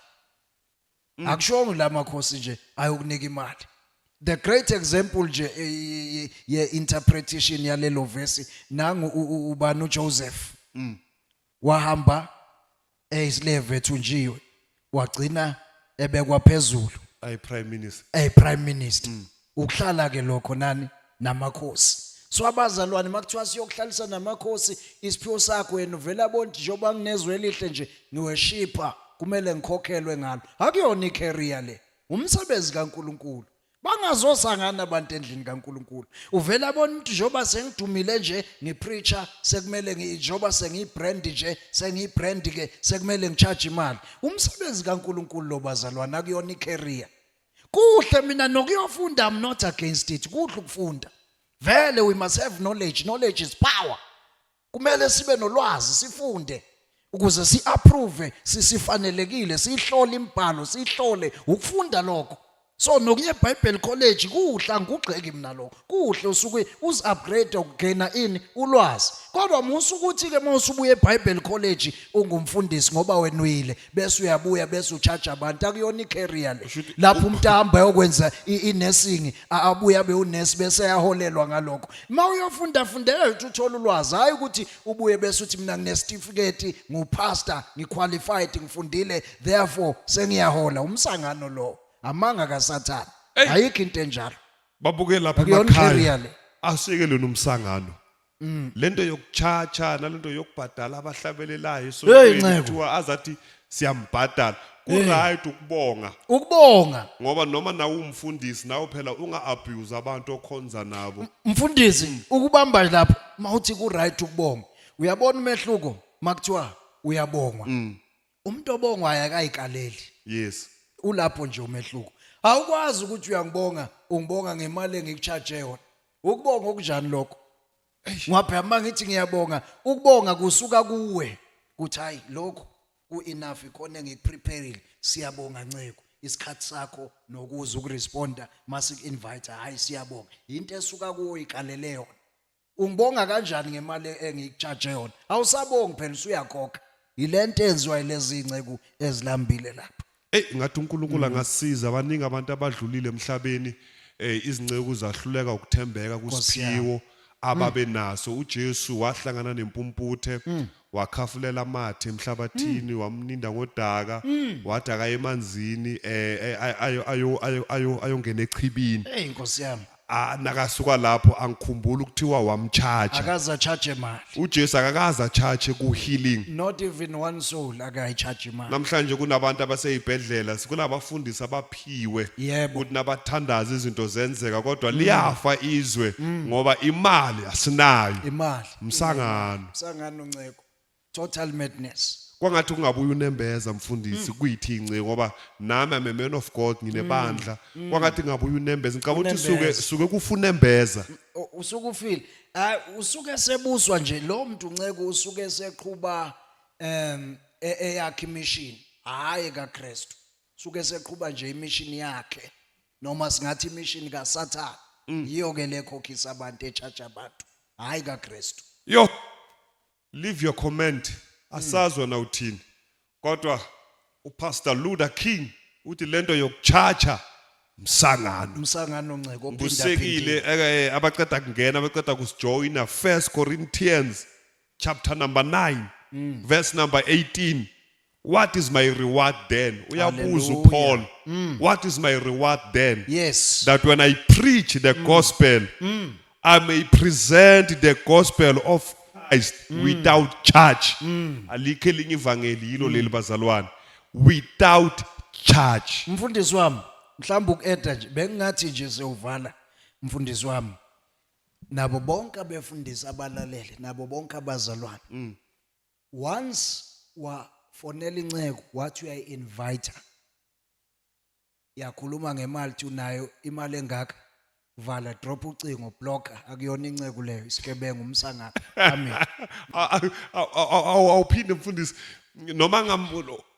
Mm. akushongo la makhosi nje ayokunika imali the great example nje eh, ye- ye- ye interpretation yalelo verse nangu u- u- ubani uJoseph Mm. wahamba eyislave ethunjiwe wagcina ebekwa phezulu ayi prime minister a prime minister ukuhlala ke lokho nani namakhosi so abazalwane makuthiwa siyokuhlalisa namakhosi isiphiwo sakho yena uvela bonti njengoba nginezwe elihle nje ngiweshipa kumele ngikhokhelwe ngalo akuyona icareer le umsebenzi kaNkuluNkulu Bangazozangana abantu endlini kaNkuluNkulu. Uvela bona ukuthi njengoba sengidumile nje ngipreacher sekumele njengoba sengiyibrand nje sengiyibrand ke sekumele ngicharge imali. Umsebenzi kaNkuluNkulu lo bazalwana kuyona icareer. Kuhle mina nokuyofunda I'm not against it. Kuhle ukufunda. Vele we must have knowledge. Knowledge is power. kumele sibe nolwazi sifunde ukuze si-approve sisifanelekile siyihlole imibhalo siyihlole ukufunda lokho so nokuye eBible College kuhla ngugxeki mina lokho kuhle usuke uzi-upgrade ukugena ini ulwazi kodwa musa ukuthi-ke uma usubuya eBible College ungumfundisi ngoba wenwile bese uyabuya bese uchaja abantu akuyona icareer le Ushuthi- lapho umuntu ahamba yokwenza inesing abuya be unesi bese yaholelwa ngalokho uma uyofunda fundela ukuthi uthole ulwazi hayi ukuthi ubuye bese uthi mina nginesitifiketi ngupastor ngiqualified ngifundile therefore sengiyahola umsangano lo amanga kasathana Ey. ayikho into enjalo babuke lapha Akuyona emakhaya icareer le. asiyeke lona umsangano Mm. lento yokuchacha nalento yokubhadala abahlabelelayo Hey, esontweni nceku. kuthiwa azathi siyambhadala kuright ukubonga ukubonga ngoba noma nawe umfundisi nawe phela unga-abuse abantu okhonza nabo mfundisi ukubamba lapho mawuthi ku right ukubonga uyabona umehluko makuthiwa uyabongwa umuntu obongwayo akayikaleli yes ulapho nje umehluko awukwazi ukuthi uyangibonga ungibonga ngemali engikucharge yona ukubonga okunjani lokho ngwaphe uma ngithi ngiyabonga ukubonga kusuka kuwe kuthi hayi lokho ku-enough ikhona engikupreparile siyabonga nceko isikhathi sakho nokuza ukuresponda masiku-invite hhayi siyabonga yinto esuka kuwo ikalele yona Ungibonga kanjani ngemali engikutshaje yona? Awusabongi phela usuyakhokha. Yilento enziwa yilezi inceku ezilambile lapha. Ey ngathi uNkulunkulu angasiza abaningi abantu abadlulile emhlabeni eh izinceku zahluleka ukuthembeka kusiphiwo ababenaso uJesu wahlangana nempumputhe wakhafulela amathe emhlabathini wamninda ngodaka wathi akaye emanzini eh eh, ay- ayo ayo ayo ayo ayongena echibini Hey Nkosi yami. Ah, nakasuka lapho angikhumbula ukuthiwa wamcharge Akaze acharge imali. uJesu akakaza charge ku healing Not even one soul akayi charge imali. namhlanje kunabantu abaseyibhedlela sikunabafundisi abaphiwe Yebo. ukuthi nabathandaza izinto zenzeka kodwa liyafa izwe ngoba imali asinayo Imali. Msangano. Msangano nceko. Total madness. kwangathi ungabuye unembeza mfundisi mm. kuyithi incinci ngoba nami I'm a man of God nginebandla mm. mm. kwangathi ngabuye unembeza ngicabanga ukuthi suke suke kufuna embeza usuke ufile hayi usuke sebuswa nje lo muntu nceke usuke seqhuba em e, eyakhe imishini hayi kaKristu suke seqhuba nje imishini yakhe noma singathi imishini kasathane yiyo ke le khokhisa abantu echatsha abantu hhayi kakristu yo leave your comment asazwa na uthini kodwa upastor luda king uthi lento yokuchacha msangano umsangano nceko ubusekile eke eh, abaqeda kungena abaqeda kusijoyina first corinthians chapter number 9 verse number 18 What is my reward then? Uyabuza uPaul. Mm. What is my reward then? Yes. That when I preach the mm. gospel, mm. I may present the gospel of Christ mm. without charge. Mm. Alikho elinye ivangeli yilo leli mm. bazalwane. Without charge. Mfundisi wami, mhlawumbe ukueda nje bengingathi nje siyovala mfundisi wami. Nabo bonke abefundisi abalalele, nabo bonke abazalwane. Mm. once wafonela inceku wathi uyayi inviter yakhuluma ngemali thi unayo imali engaka vala drop ucingo block akuyona inceku leyo isigebengu umsangaka amen awuphinde mfundisi noma ngam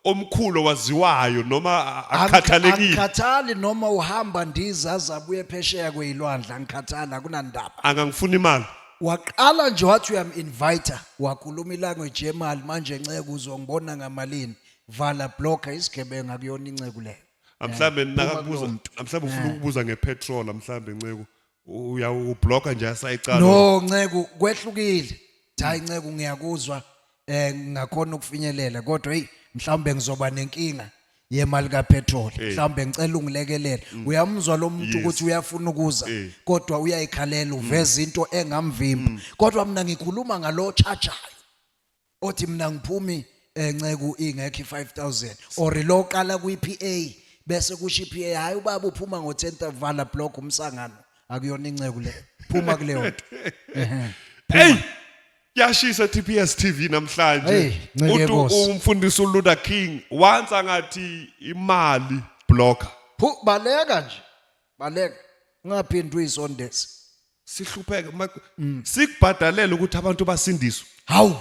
omkhulu owaziwayo noma a- a- akhathalekile angikhathali noma uhamba ndiza azabuye phesheya kweyilwandle angikhathali akunandaba angangifuni imali waqala nje wathi uyamu-inviter wakhuluma ilanguage yemali manje nceku uzongibona ngamalini vala blocker isigebengu akuyona inceku leyo mhlawumbe nakakubuza kulowo mntu. mhlawumbe ufuna ukubuza ngepetrol mhlawumbe nceku uyawubloka nje asayicala no nceku kwehlukile hayi nceku ngiyakuzwa eh ngakhona ukufinyelela kodwa hey mhlawumbe ngizoba nenkinga yemali kapetrol eh. mhlawumbe ngicela ungilekelele mm. uyamuzwa lo muntu ukuthi uyafuna ukuza eh. kodwa uyayikhalela uveza mm. into engamvimba mm. kodwa mina ngikhuluma ngalo charger othi mina ngiphumi eh, nceku ingekho i5000 or lo qala kwiPA bese kusho iPA hayi ubaba uphuma ngo10 vala block umsangano akuyona inceku le phuma kuleyo nto Ehhe. hey yashisa TPS TV Hey, namhlanje nceke uthi Nkosi. umfundisi uLuda King wansa ngathi imali blocker Phu baleka nje baleka ungaphindi uyisondezi sihlupheke ma- Mm. sikubhadalela ukuthi abantu basindiswe hawu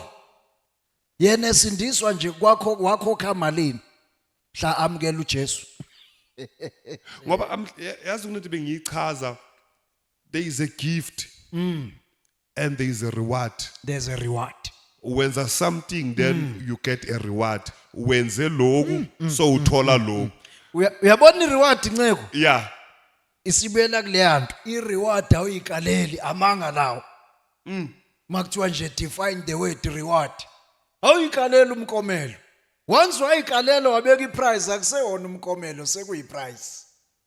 yena esindiswa nje kwakho wakhokha malini mhla amukela uJesu ngoba am- ya- yazi kunento bengiyichaza there is a gift Mm. and there is a reward there's a reward wenza something then Mm. you get a reward wenze lokhu so uthola lokhu Uya- uyabona ireward nceko yeah isibuyela kuleya nto i-reward awuyikaleli amanga lawo Mm. uma kuthiwa nje define the word reward awuyikaleli umkomelo once wayikalela wabeka iprize akuseyona umkomelo sekuyiprize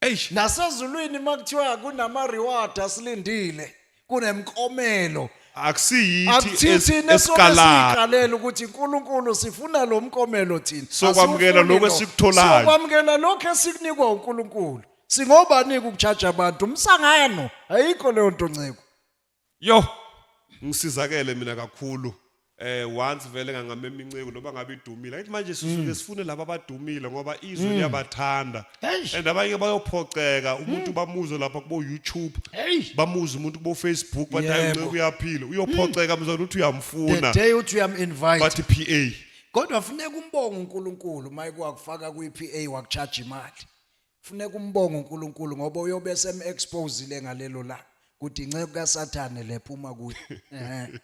Eish. nasezulwini uma kuthiwa kunama-reward asilindile kunemkomelo akusiyithi akuthithini es- esobe esikalayo siyiqalela ukuthi uNkulunkulu sifuna lo mkomelo thina Sokwamukela Asiwufuni lokho lo. esikutholayo. sokwamukela lokho esikunikwa uNkulunkulu singobanike ukuchaja abantu umsangano ayikho leyo nto nceko yo ngisizakele mina kakhulu eh once vele ngangamema inceku noba ngabe idumile ayithi manje sisuke sifune laba abadumile ngoba izwe liyabathanda Eish. and abanye bayophoxeka umuntu bamuzwe lapha kubo YouTube Eish. bamuze umuntu kubo Facebook bathi hayi Yebo. unceku uyaphila uyophoxeka mzwana uthi the uyamfuna day uthi uyaminvite bathi PA kodwa funeka umbonge unkulunkulu uma ekuwakufaka kwi-p a wakutshaja imali Funeka umbonge uNkulunkulu ngoba uyobe esem-exposile ngalelo langa ukuthi inceku kaSathane le phuma kuye. Ehhe.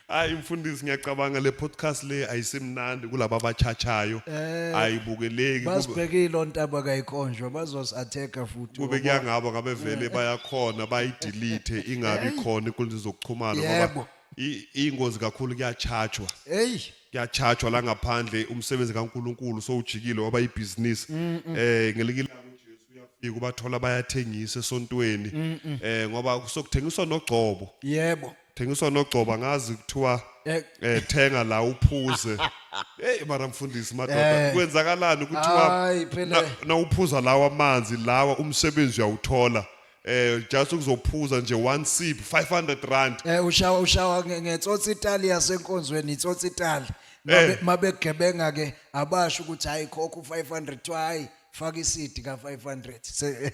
Hayi mfundisi ngiyacabanga le podcast le ayisemnandi kulabo abachachayo. Eh, Ayibukeleki kube- Basibhekile ontaba kayikonjwa bazosatheka futhi. kube Ngoba- kuyangabo ngabe vele bayakhona bayidelete ingabi khona inkundla zokuxhumana ngoba Yebo. i- ingozi kakhulu kuyachatshwa. Hey, kuyachajwa la ngaphandle umsebenzi kaNkuluNkulu sowujikile waba ibhizinisi eh ngelinye ilanga uJesu uyafika ubathola bayathengisa esontweni eh ngoba kusokuthengiswa nogcobo yebo thengiswa nogcoba ngazi kuthiwa Eh. eh thenga la uphuze hey mara mfundisi madoda Eh. kwenzakalani kuthiwa Hayi, phela. na- nawuphuza lawa amanzi lawa umsebenzi uyawuthola eh just ukuzophuza nje one sip 500 rand Eh ushawa ushawa nge- ngetsotsi itali yasenkonzweni itsotsi itali. Mabe- Eh. Mabegebenga ke abasho ukuthi hayi khokho 500 kuthiwa hayi faka isidi ka 500. Se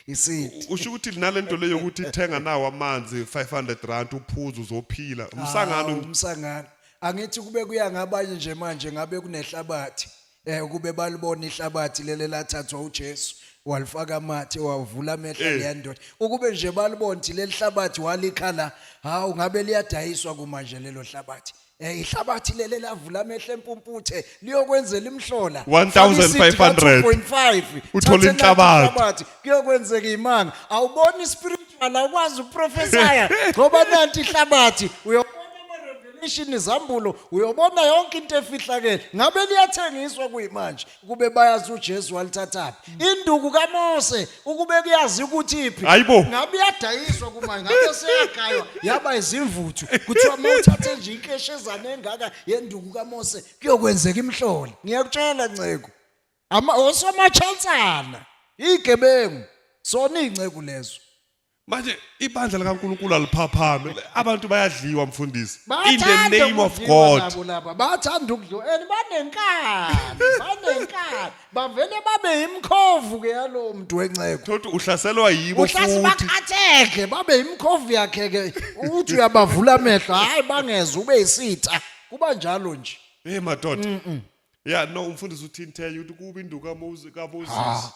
isidi. usho ukuthi linalento leyo ukuthi thenga nawo amanzi 500 rand uphuza uzophila Hawu, umsangano umsangano. Angithi kube kuya ngabanye nje manje ngabe kunehlabathi. Eh ukube balibona ihlabathi lele lathathwa uJesu walifaka amathe wavula amehlo Eh. leya ndoda. Ukube nje balibona ukuthi leli hlabathi walikhala hawu ngabe liyadayiswa kumanje lelo hlabathi. Eh ihlabathi lele lavula amehlo empumputhe liyokwenzela imhlola. 1,500. 5 Uthole inhlabathi. kuyokwenzeka imanga awuboni ispiritual awukwazi ukuprofesaya ngoba nanti ihlabathi uyobona ama-revelation izambulo uyobona yonke into efihlakele ngabe liyathengiswa kuyimanje ukube bayazi ujesu walithathaphi induku kamose ukube kuyazi ukuthi iphi Hayi bo. ngabe iyadayiswa kumanje ngabe seyagaywa yaba izimvuthu kuthiwa uma uthathe nje inkeshezane engaka yenduku kamose kuyokwenzeka imhlolo ngiyakutshela nceku Ama osomachansana, igebengu, sona inceku lezo. Manje ibandla likaNkuluNkulu aliphaphame. Abantu bayadliwa mfundisi. In the Bathanda name of ukudliwa God. nabo laba. Bathanda ukudliwa and banenkani, banenkani. Bavele babe imkhovu ke yalowo muntu wenceku. Thothi uhlaselwa yibo uhlasi futhi. bakhatheke babe imkhovu yakhe ke uthi uyabavula amehlo hayi bangeza ube isitha kuba njalo nje Hey madoda. ya no umfundisi uthintenye ukuthi kubi induku kaMoses kaMoses Ah.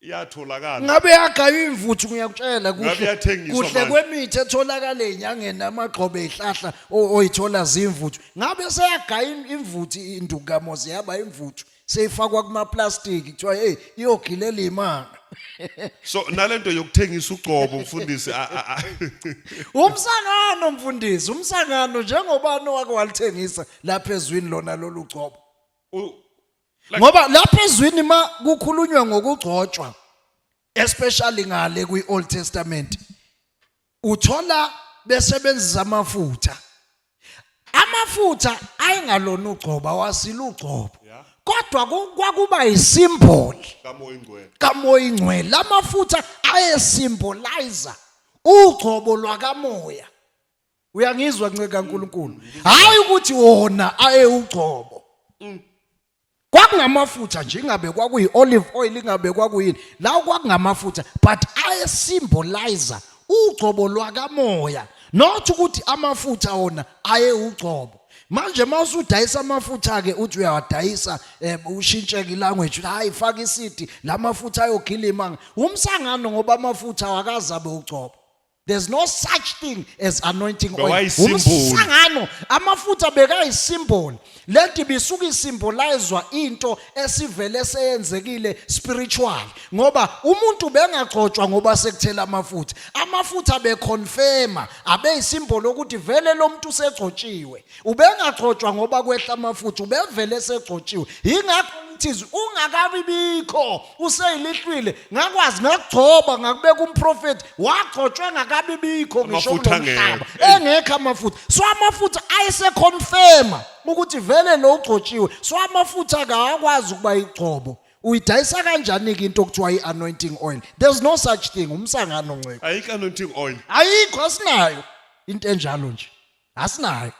iyatholakala ngabe yagaywa imvuthu ngiyakutshela Ngabe kuhle iyathengiswa kuhle manje. kwemithi etholakala enyangeni amagxobe ezihlahla o- oyithola zimvuthu ngabe seyagaya im- imvuthu induku kamoze yaba imvuthu seyifakwa kumaplastiki kuthiwa hey iyogilela imanga so nalento yokuthengisa ucobo mfundisi a- a- a- umsangano mfundisi umsangano njengobani owake walithengisa lapha ezwini lona lolu gcobo u- Like- ngoba lapha ezwini ma kukhulunywa ngokugcotshwa especially ngale kwi-old testament Uthola besebenzisa amafutha. Amafutha ayengalona ugcoba wasila ugcobo. Yeah. Kodwa ku- kwakuba isimboli kamoya ingcwele kamoya ingcwele. Lamafutha ayesimbolizer ugcobo lwakamoya. Uyangizwa nceka kaNkuluNkulu. Hayi ukuthi wona ayewugcobo. kwakungamafutha nje ingabe kwakuyi olive oil ingabe kwakuyini lawo kwakungamafutha but aye symbolizer ugcobo lwakamoya not ukuthi amafutha wona aye ugcobo manje mawusudayisa amafutha ke uthi uyawadayisa eh, ushintsheke ilanguage hayi faka isidi lamafutha ayogilima umsangano ngoba amafutha wakazabe ugcobo There's no such thing as anointing oil. Bewayisymbol. Umsangano amafutha bekayisymbol. Lento ibisuke isimbolizwa into esivele seyenzekile spiritual ngoba umuntu bengagcotshwa ngoba sekuthela amafutha. Amafutha beconfirma abeyisymbol ukuthi vele lomuntu usegcotshiwe. ubengagcotshwa ngoba kwehla amafutha ubevele esegcotshiwe yingakho thiz ungakabi bikho useyilihlwile ngakwazi ngakugcoba ngakubeka umprofethi wagcotshwe ngakabi bikho ngisho Amafutha kulomhlaba ngeke. engekho amafutha so amafutha ayeseconfirma ukuthi vele lo ugcotshiwe so amafutha akawakwazi ukuba igcobo uyidayisa kanjani-ke into okuthiwa i-anointing oil there's no such thing umsangano nceko ayikho anointing oil ayikho asinayo into enjalo nje asinayo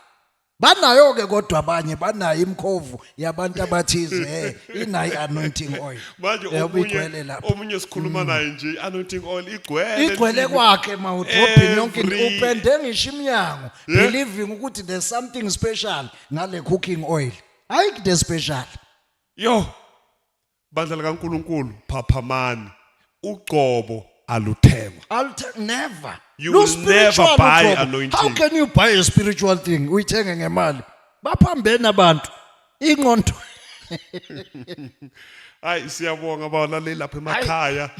banayo ke kodwa abanye banayo imkhovu yabantu abathize eh inayi anointing oil manje Yabo omunye igcwele lapha. omunye sikhuluma naye nje anointing oil igcwele igcwele endlini. kwakhe mawudrobhini yonke into. Every- upende ngisho imnyango Yeah. believing ukuthi there's something special ngale cooking oil hayi kute special yo Bandla likaNkuluNkulu phaphamani. Ugcobo aluthengwa. I'll t- never. You Lu will spiritual never buy uqobo. anointing. How can you buy a spiritual thing? Uyithenge ngemali. Baphambene abantu. Ingqondo. Hayi siyabonga balaleli lapha emakhaya.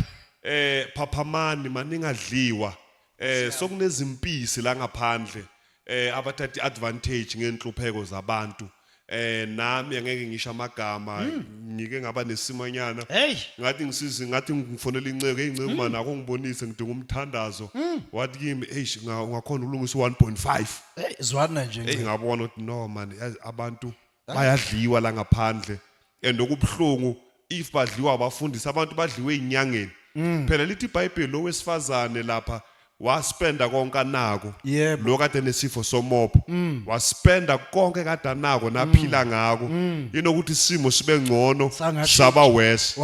Eh phaphamani maningadliwa. eh sokunezimpisi la ngaphandle eh abathatha advantage ngenhlupheko zabantu eh nami angeke ngisho amagama Hmm. ngike ngaba nesimanyana Hey. ngathi ngisizi ngathi ngifonela inceke Hmm. inceke manje akho ngibonise ngidinga umthandazo wathi kimi eish nga- ungakhona ukulungisa 1.5 Hey, zwana nje. hey ngabona ukuthi no man yazi abantu bayadliwa la ngaphandle and okubuhlungu if badliwa abafundisi abantu badliwe inyangeni mm. phela lithi ibhayibheli lo wesifazane lapha waspenda konke anako yep. lo kade nesifo somopo mm. waspenda konke kade anako naphila mm. ngako mm. inokuthi isimo sibe ngcono saba worse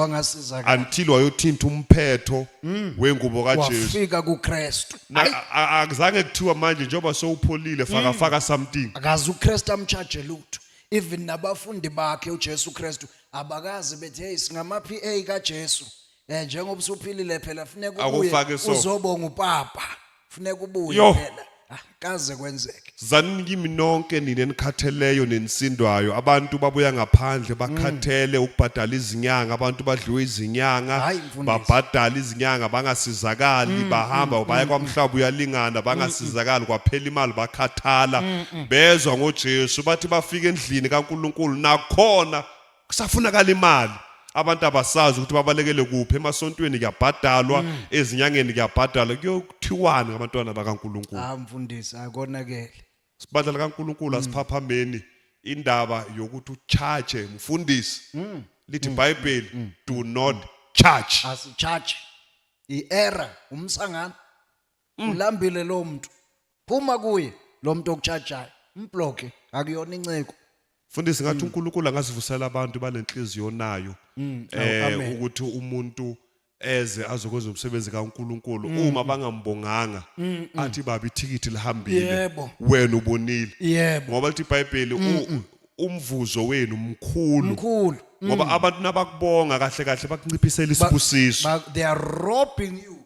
until wayothinta umphetho mm. wengubo kaJesu wafika kuKristu Na- Ayi. a- a- akuzange kuthiwa manje njengoba sowupholile faka faka something akazi uKristu amcharge lutho even nabafundi bakhe uJesu Kristu abakazi bethi hey singama PA kaJesu eh njengoba usuphilile phela funeka Akufake ubuye so. uzobonga upapa funeka ubuye Yo. phela Ah, kaze kwenzeke Zanini kimi nonke nina enikhatheleyo nenisindwayo abantu babuya ngaphandle bakhathele ukubhadala izinyanga abantu badliwe izinyanga Mm. Hayi, mfundisi. Mm, babhadala izinyanga bangasizakali bahamba baya kwamhlaba uyalingana bangasizakali kwaphela imali bakhathala Mm, bezwa ngoJesu bathi bafika endlini kaNkuluNkulu nakhona kusafunakala imali abantu abasazi ukuthi babalekele kuphi emasontweni kuyabhadalwa mm. ezinyangeni kuyabhadalwa kuyokuthiwani ngabantwana bakaNkuluNkulu ah mfundisi akonakele sibadla likaNkuluNkulu mm. asiphaphambeni indaba yokuthi ucharge mfundisi mm. lithi bible do not charge asicharge i-error umsangano Mm. ulambile lo muntu phuma kuye lo muntu okutshajayo mbloke akuyona inceko Fundisi ngathi uNkulunkulu angasivusela abantu banenhliziyo nayo eh amen. ukuthi umuntu eze azokwenza umsebenzi kaNkulunkulu uma bangambonganga athi baba ithikithi lihambile Yebo. wena ubonile yebo ngoba lithi iBhayibheli u- umvuzo wenu mkhulu mkhulu ngoba abantu nabakubonga kahle kahle bakunciphisela isibusiso Ba- they are robbing you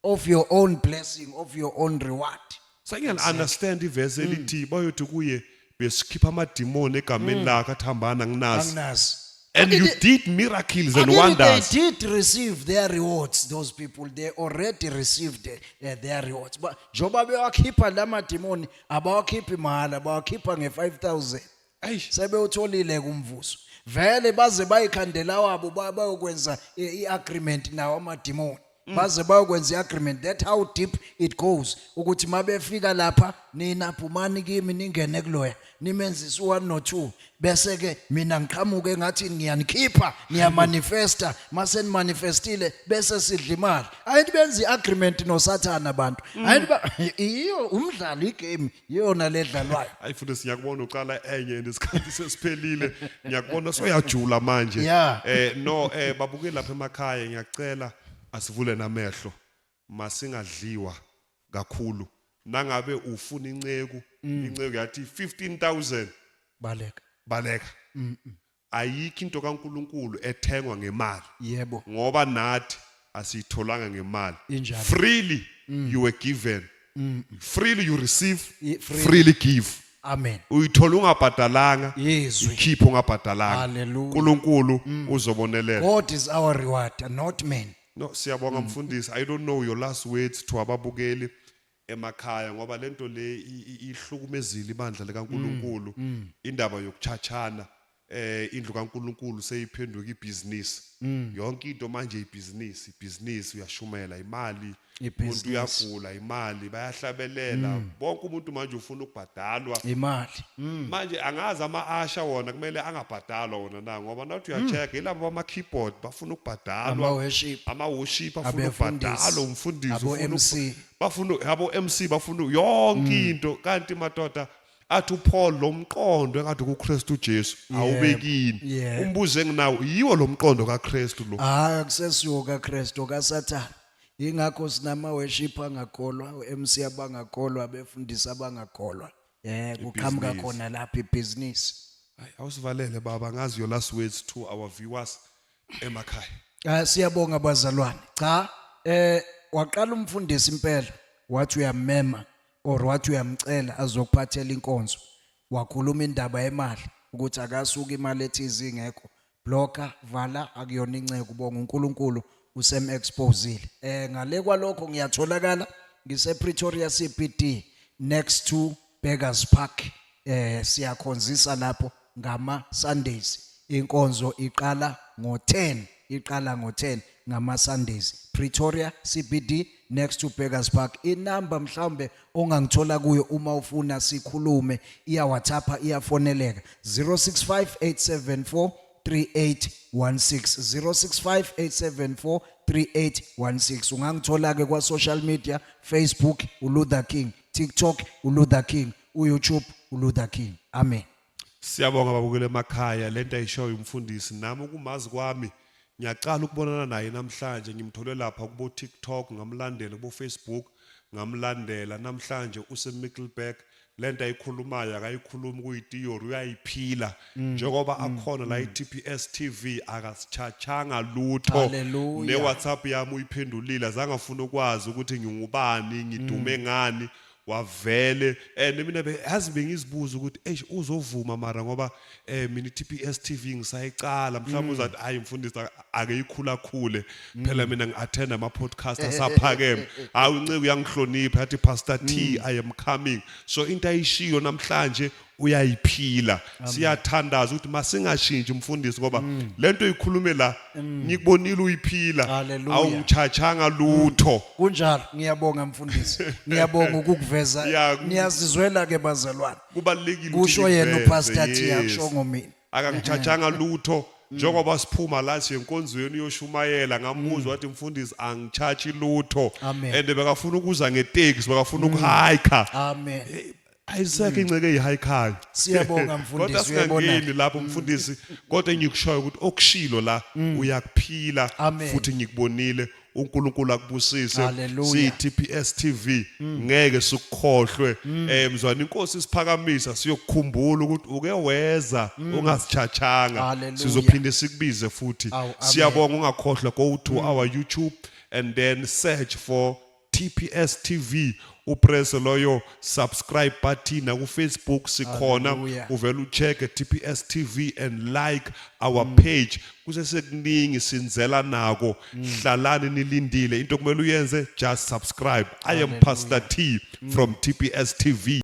of your own blessing of your own reward Sangiyal understand ivesi elithi bayothi kuye besikhipha amadimoni egameni lakhe athambana nginazi. anginazi And you did miracles and Akini, wonders. they did receive their rewards those people they already received uh, their rewards Ba- njengoba bewakhipha la madimoni abawakhiphi mahhala bawakhipha nge-5000 sebewutholile kumvuzo vele baze bayikhandela wabo bayokwenza i-agreement nawo amadimoni mm. baze bayokwenza i-agreement that how deep it goes ukuthi mabefika lapha nina phumani kimi ningene kuloya nimenzise u-one no-two bese-ke mina ngiqhamuke ngathi ngiyanikhipha niyamanifesta mase nimanifestile bese sidla imali ayithi benza i-agreement nosathane abantu mm. ayithi iyo umdlalo igame yiyona ledlalwayo hayi futhi siyakubona uqala enye and isikhathi sesiphelile ngiyakubona soyajula manje Yeah. eh no eh babuke lapha emakhaya ngiyacela asivule namehlo masingadliwa kakhulu nangabe ufuna inceku inceku yathi 15000 baleka baleka ayikho into kaNkuluNkulu ethengwa ngemali yebo ngoba nathi asiyitholanga ngemali Injalo. freely you were given freely you receive Ye- freely. freely give amen uyithola ungabhadalanga Yezwi. ikhiphe ungabhadalanga Hallelujah. uNkulunkulu uzobonelela god is our reward not man no siyabonga mfundisi i don't know your last words to ababukeli emakhaya ngoba lento le ihlukumezile ibandla likaNkuluNkulu mm, mm. indaba yokuchachana eh indlu kaNkuluNkulu seyiphenduka ibusiness mm. yonke into manje ibusiness ibusiness uyashumela imali umuntu uyagula imali bayahlabelela bonke umuntu manje ufuna ukubhadalwa imali manje angazi ama asha wona kumele angabhadalwa wona na ngoba nathi uyacheck ilabo bama keyboard bafuna ukubhadalwa ama worship afuna ukubhadalwa umfundisi ufuna bafuna yabo MC bafuna yonke mm. into kanti madoda athi uPaul lomqondo engathi kuKristu uJesu awubekini umbuzo enginawo yiwo lomqondo kaKristu lo hayi akusesiwo kaKristu kaSathane ingakho sinama worship angakholwa uMC abangakholwa abefundisi abangakholwa eh kuqhamuka khona lapha ibhizinisi awusivalele baba ngazi your last words to our viewers emakhaya Ah siyabonga bazalwane. Cha eh waqala umfundisi impela wathi uyamema or wathi uyamcela azokuphathela inkonzo. Wakhuluma indaba yemali ukuthi akasuka imali ethize ingekho. Blocker vala akuyona inceku bonga uNkulunkulu usem exposile. Eh ngale kwalokho ngiyatholakala ngise Pretoria CBD next to Beggars Park eh siyakhonzisa lapho ngama Sundays inkonzo iqala ngo10 iqala ngo10 ngama Sundays Pretoria CBD next to Beggars Park inamba mhlawumbe ongangithola kuyo uma ufuna sikhulume iya WhatsApp iyafoneleka 065874 3816 ungangithola-ke kwa-social media facebook uluther king TikTok uLuther King, uYouTube uLuther King. Amen. Siyabonga babukele emakhaya lento ayishoyo umfundisi nami ukumazi kwami ngiyaqala ukubonana naye namhlanje ngimthole lapha kubo TikTok ngamlandela kubo Facebook ngamlandela namhlanje use Middleburg lento ayikhulumayo akayikhulumi kuyi theory uyayiphila Mm. njengoba mm. akhona la mm. i-tps tv akasitshachanga lutho ne-whatsapp yami uyiphendulile azange afuna ukwazi ukuthi ngingubani ngidume ngani wavele and mina yazi bengizibuza ukuthi eish uzovuma mara ngoba eh mina i-TPS TV ngisayicala mhlawumbe uzathi hayi mfundisi ake ikhula khule phela mina ngi-attend ama podcast asaphakeme hayi unceku uyangihlonipha yathi pastor T I am coming so into ayishiyo namhlanje uyayiphila siyathandaza ukuthi masingashintshi mfundisi ngoba mm. lento ikhulume la mm. ngikubonile uyiphila awuchachanga lutho mm. kunjalo ngiyabonga mfundisi ngiyabonga ukukuveza ngiyazizwela ke bazalwane kubalekile kusho yena upastor Thiyasho ngomina akangichachanga lutho njengoba siphuma la siye enkonzweni uyoshumayela ngamuzwa wathi mfundisi angichachi lutho and bekafuna ukuza ngeteksi bekafuna ukuhiker amen ayisekho inceke eyihaykhayo Siyabonga, mfundisi, kodwa uyayibona. singangeni lapho mfundisi kodwa engikushoyo ukuthi okushilo la uyakuphila Amen. futhi ngikubonile uNkulunkulu akubusise Hallelujah. siyi TPS TV ngeke sikukhohlwe eh mzwana inkosi isiphakamisa siyokukhumbula ukuthi uke weza ungasichachanga Hallelujah. sizophinde sikubize futhi Awu, amen. siyabonga ungakhohlwa go to our YouTube and then search for TPS TV upress loyo subscribe button na ku Facebook sikhona Hallelujah. uvela ucheck TPS TV and like our page kusesekuningi sinzela nako hlalani nilindile into kumele uyenze just subscribe I am Pastor T from TPS TV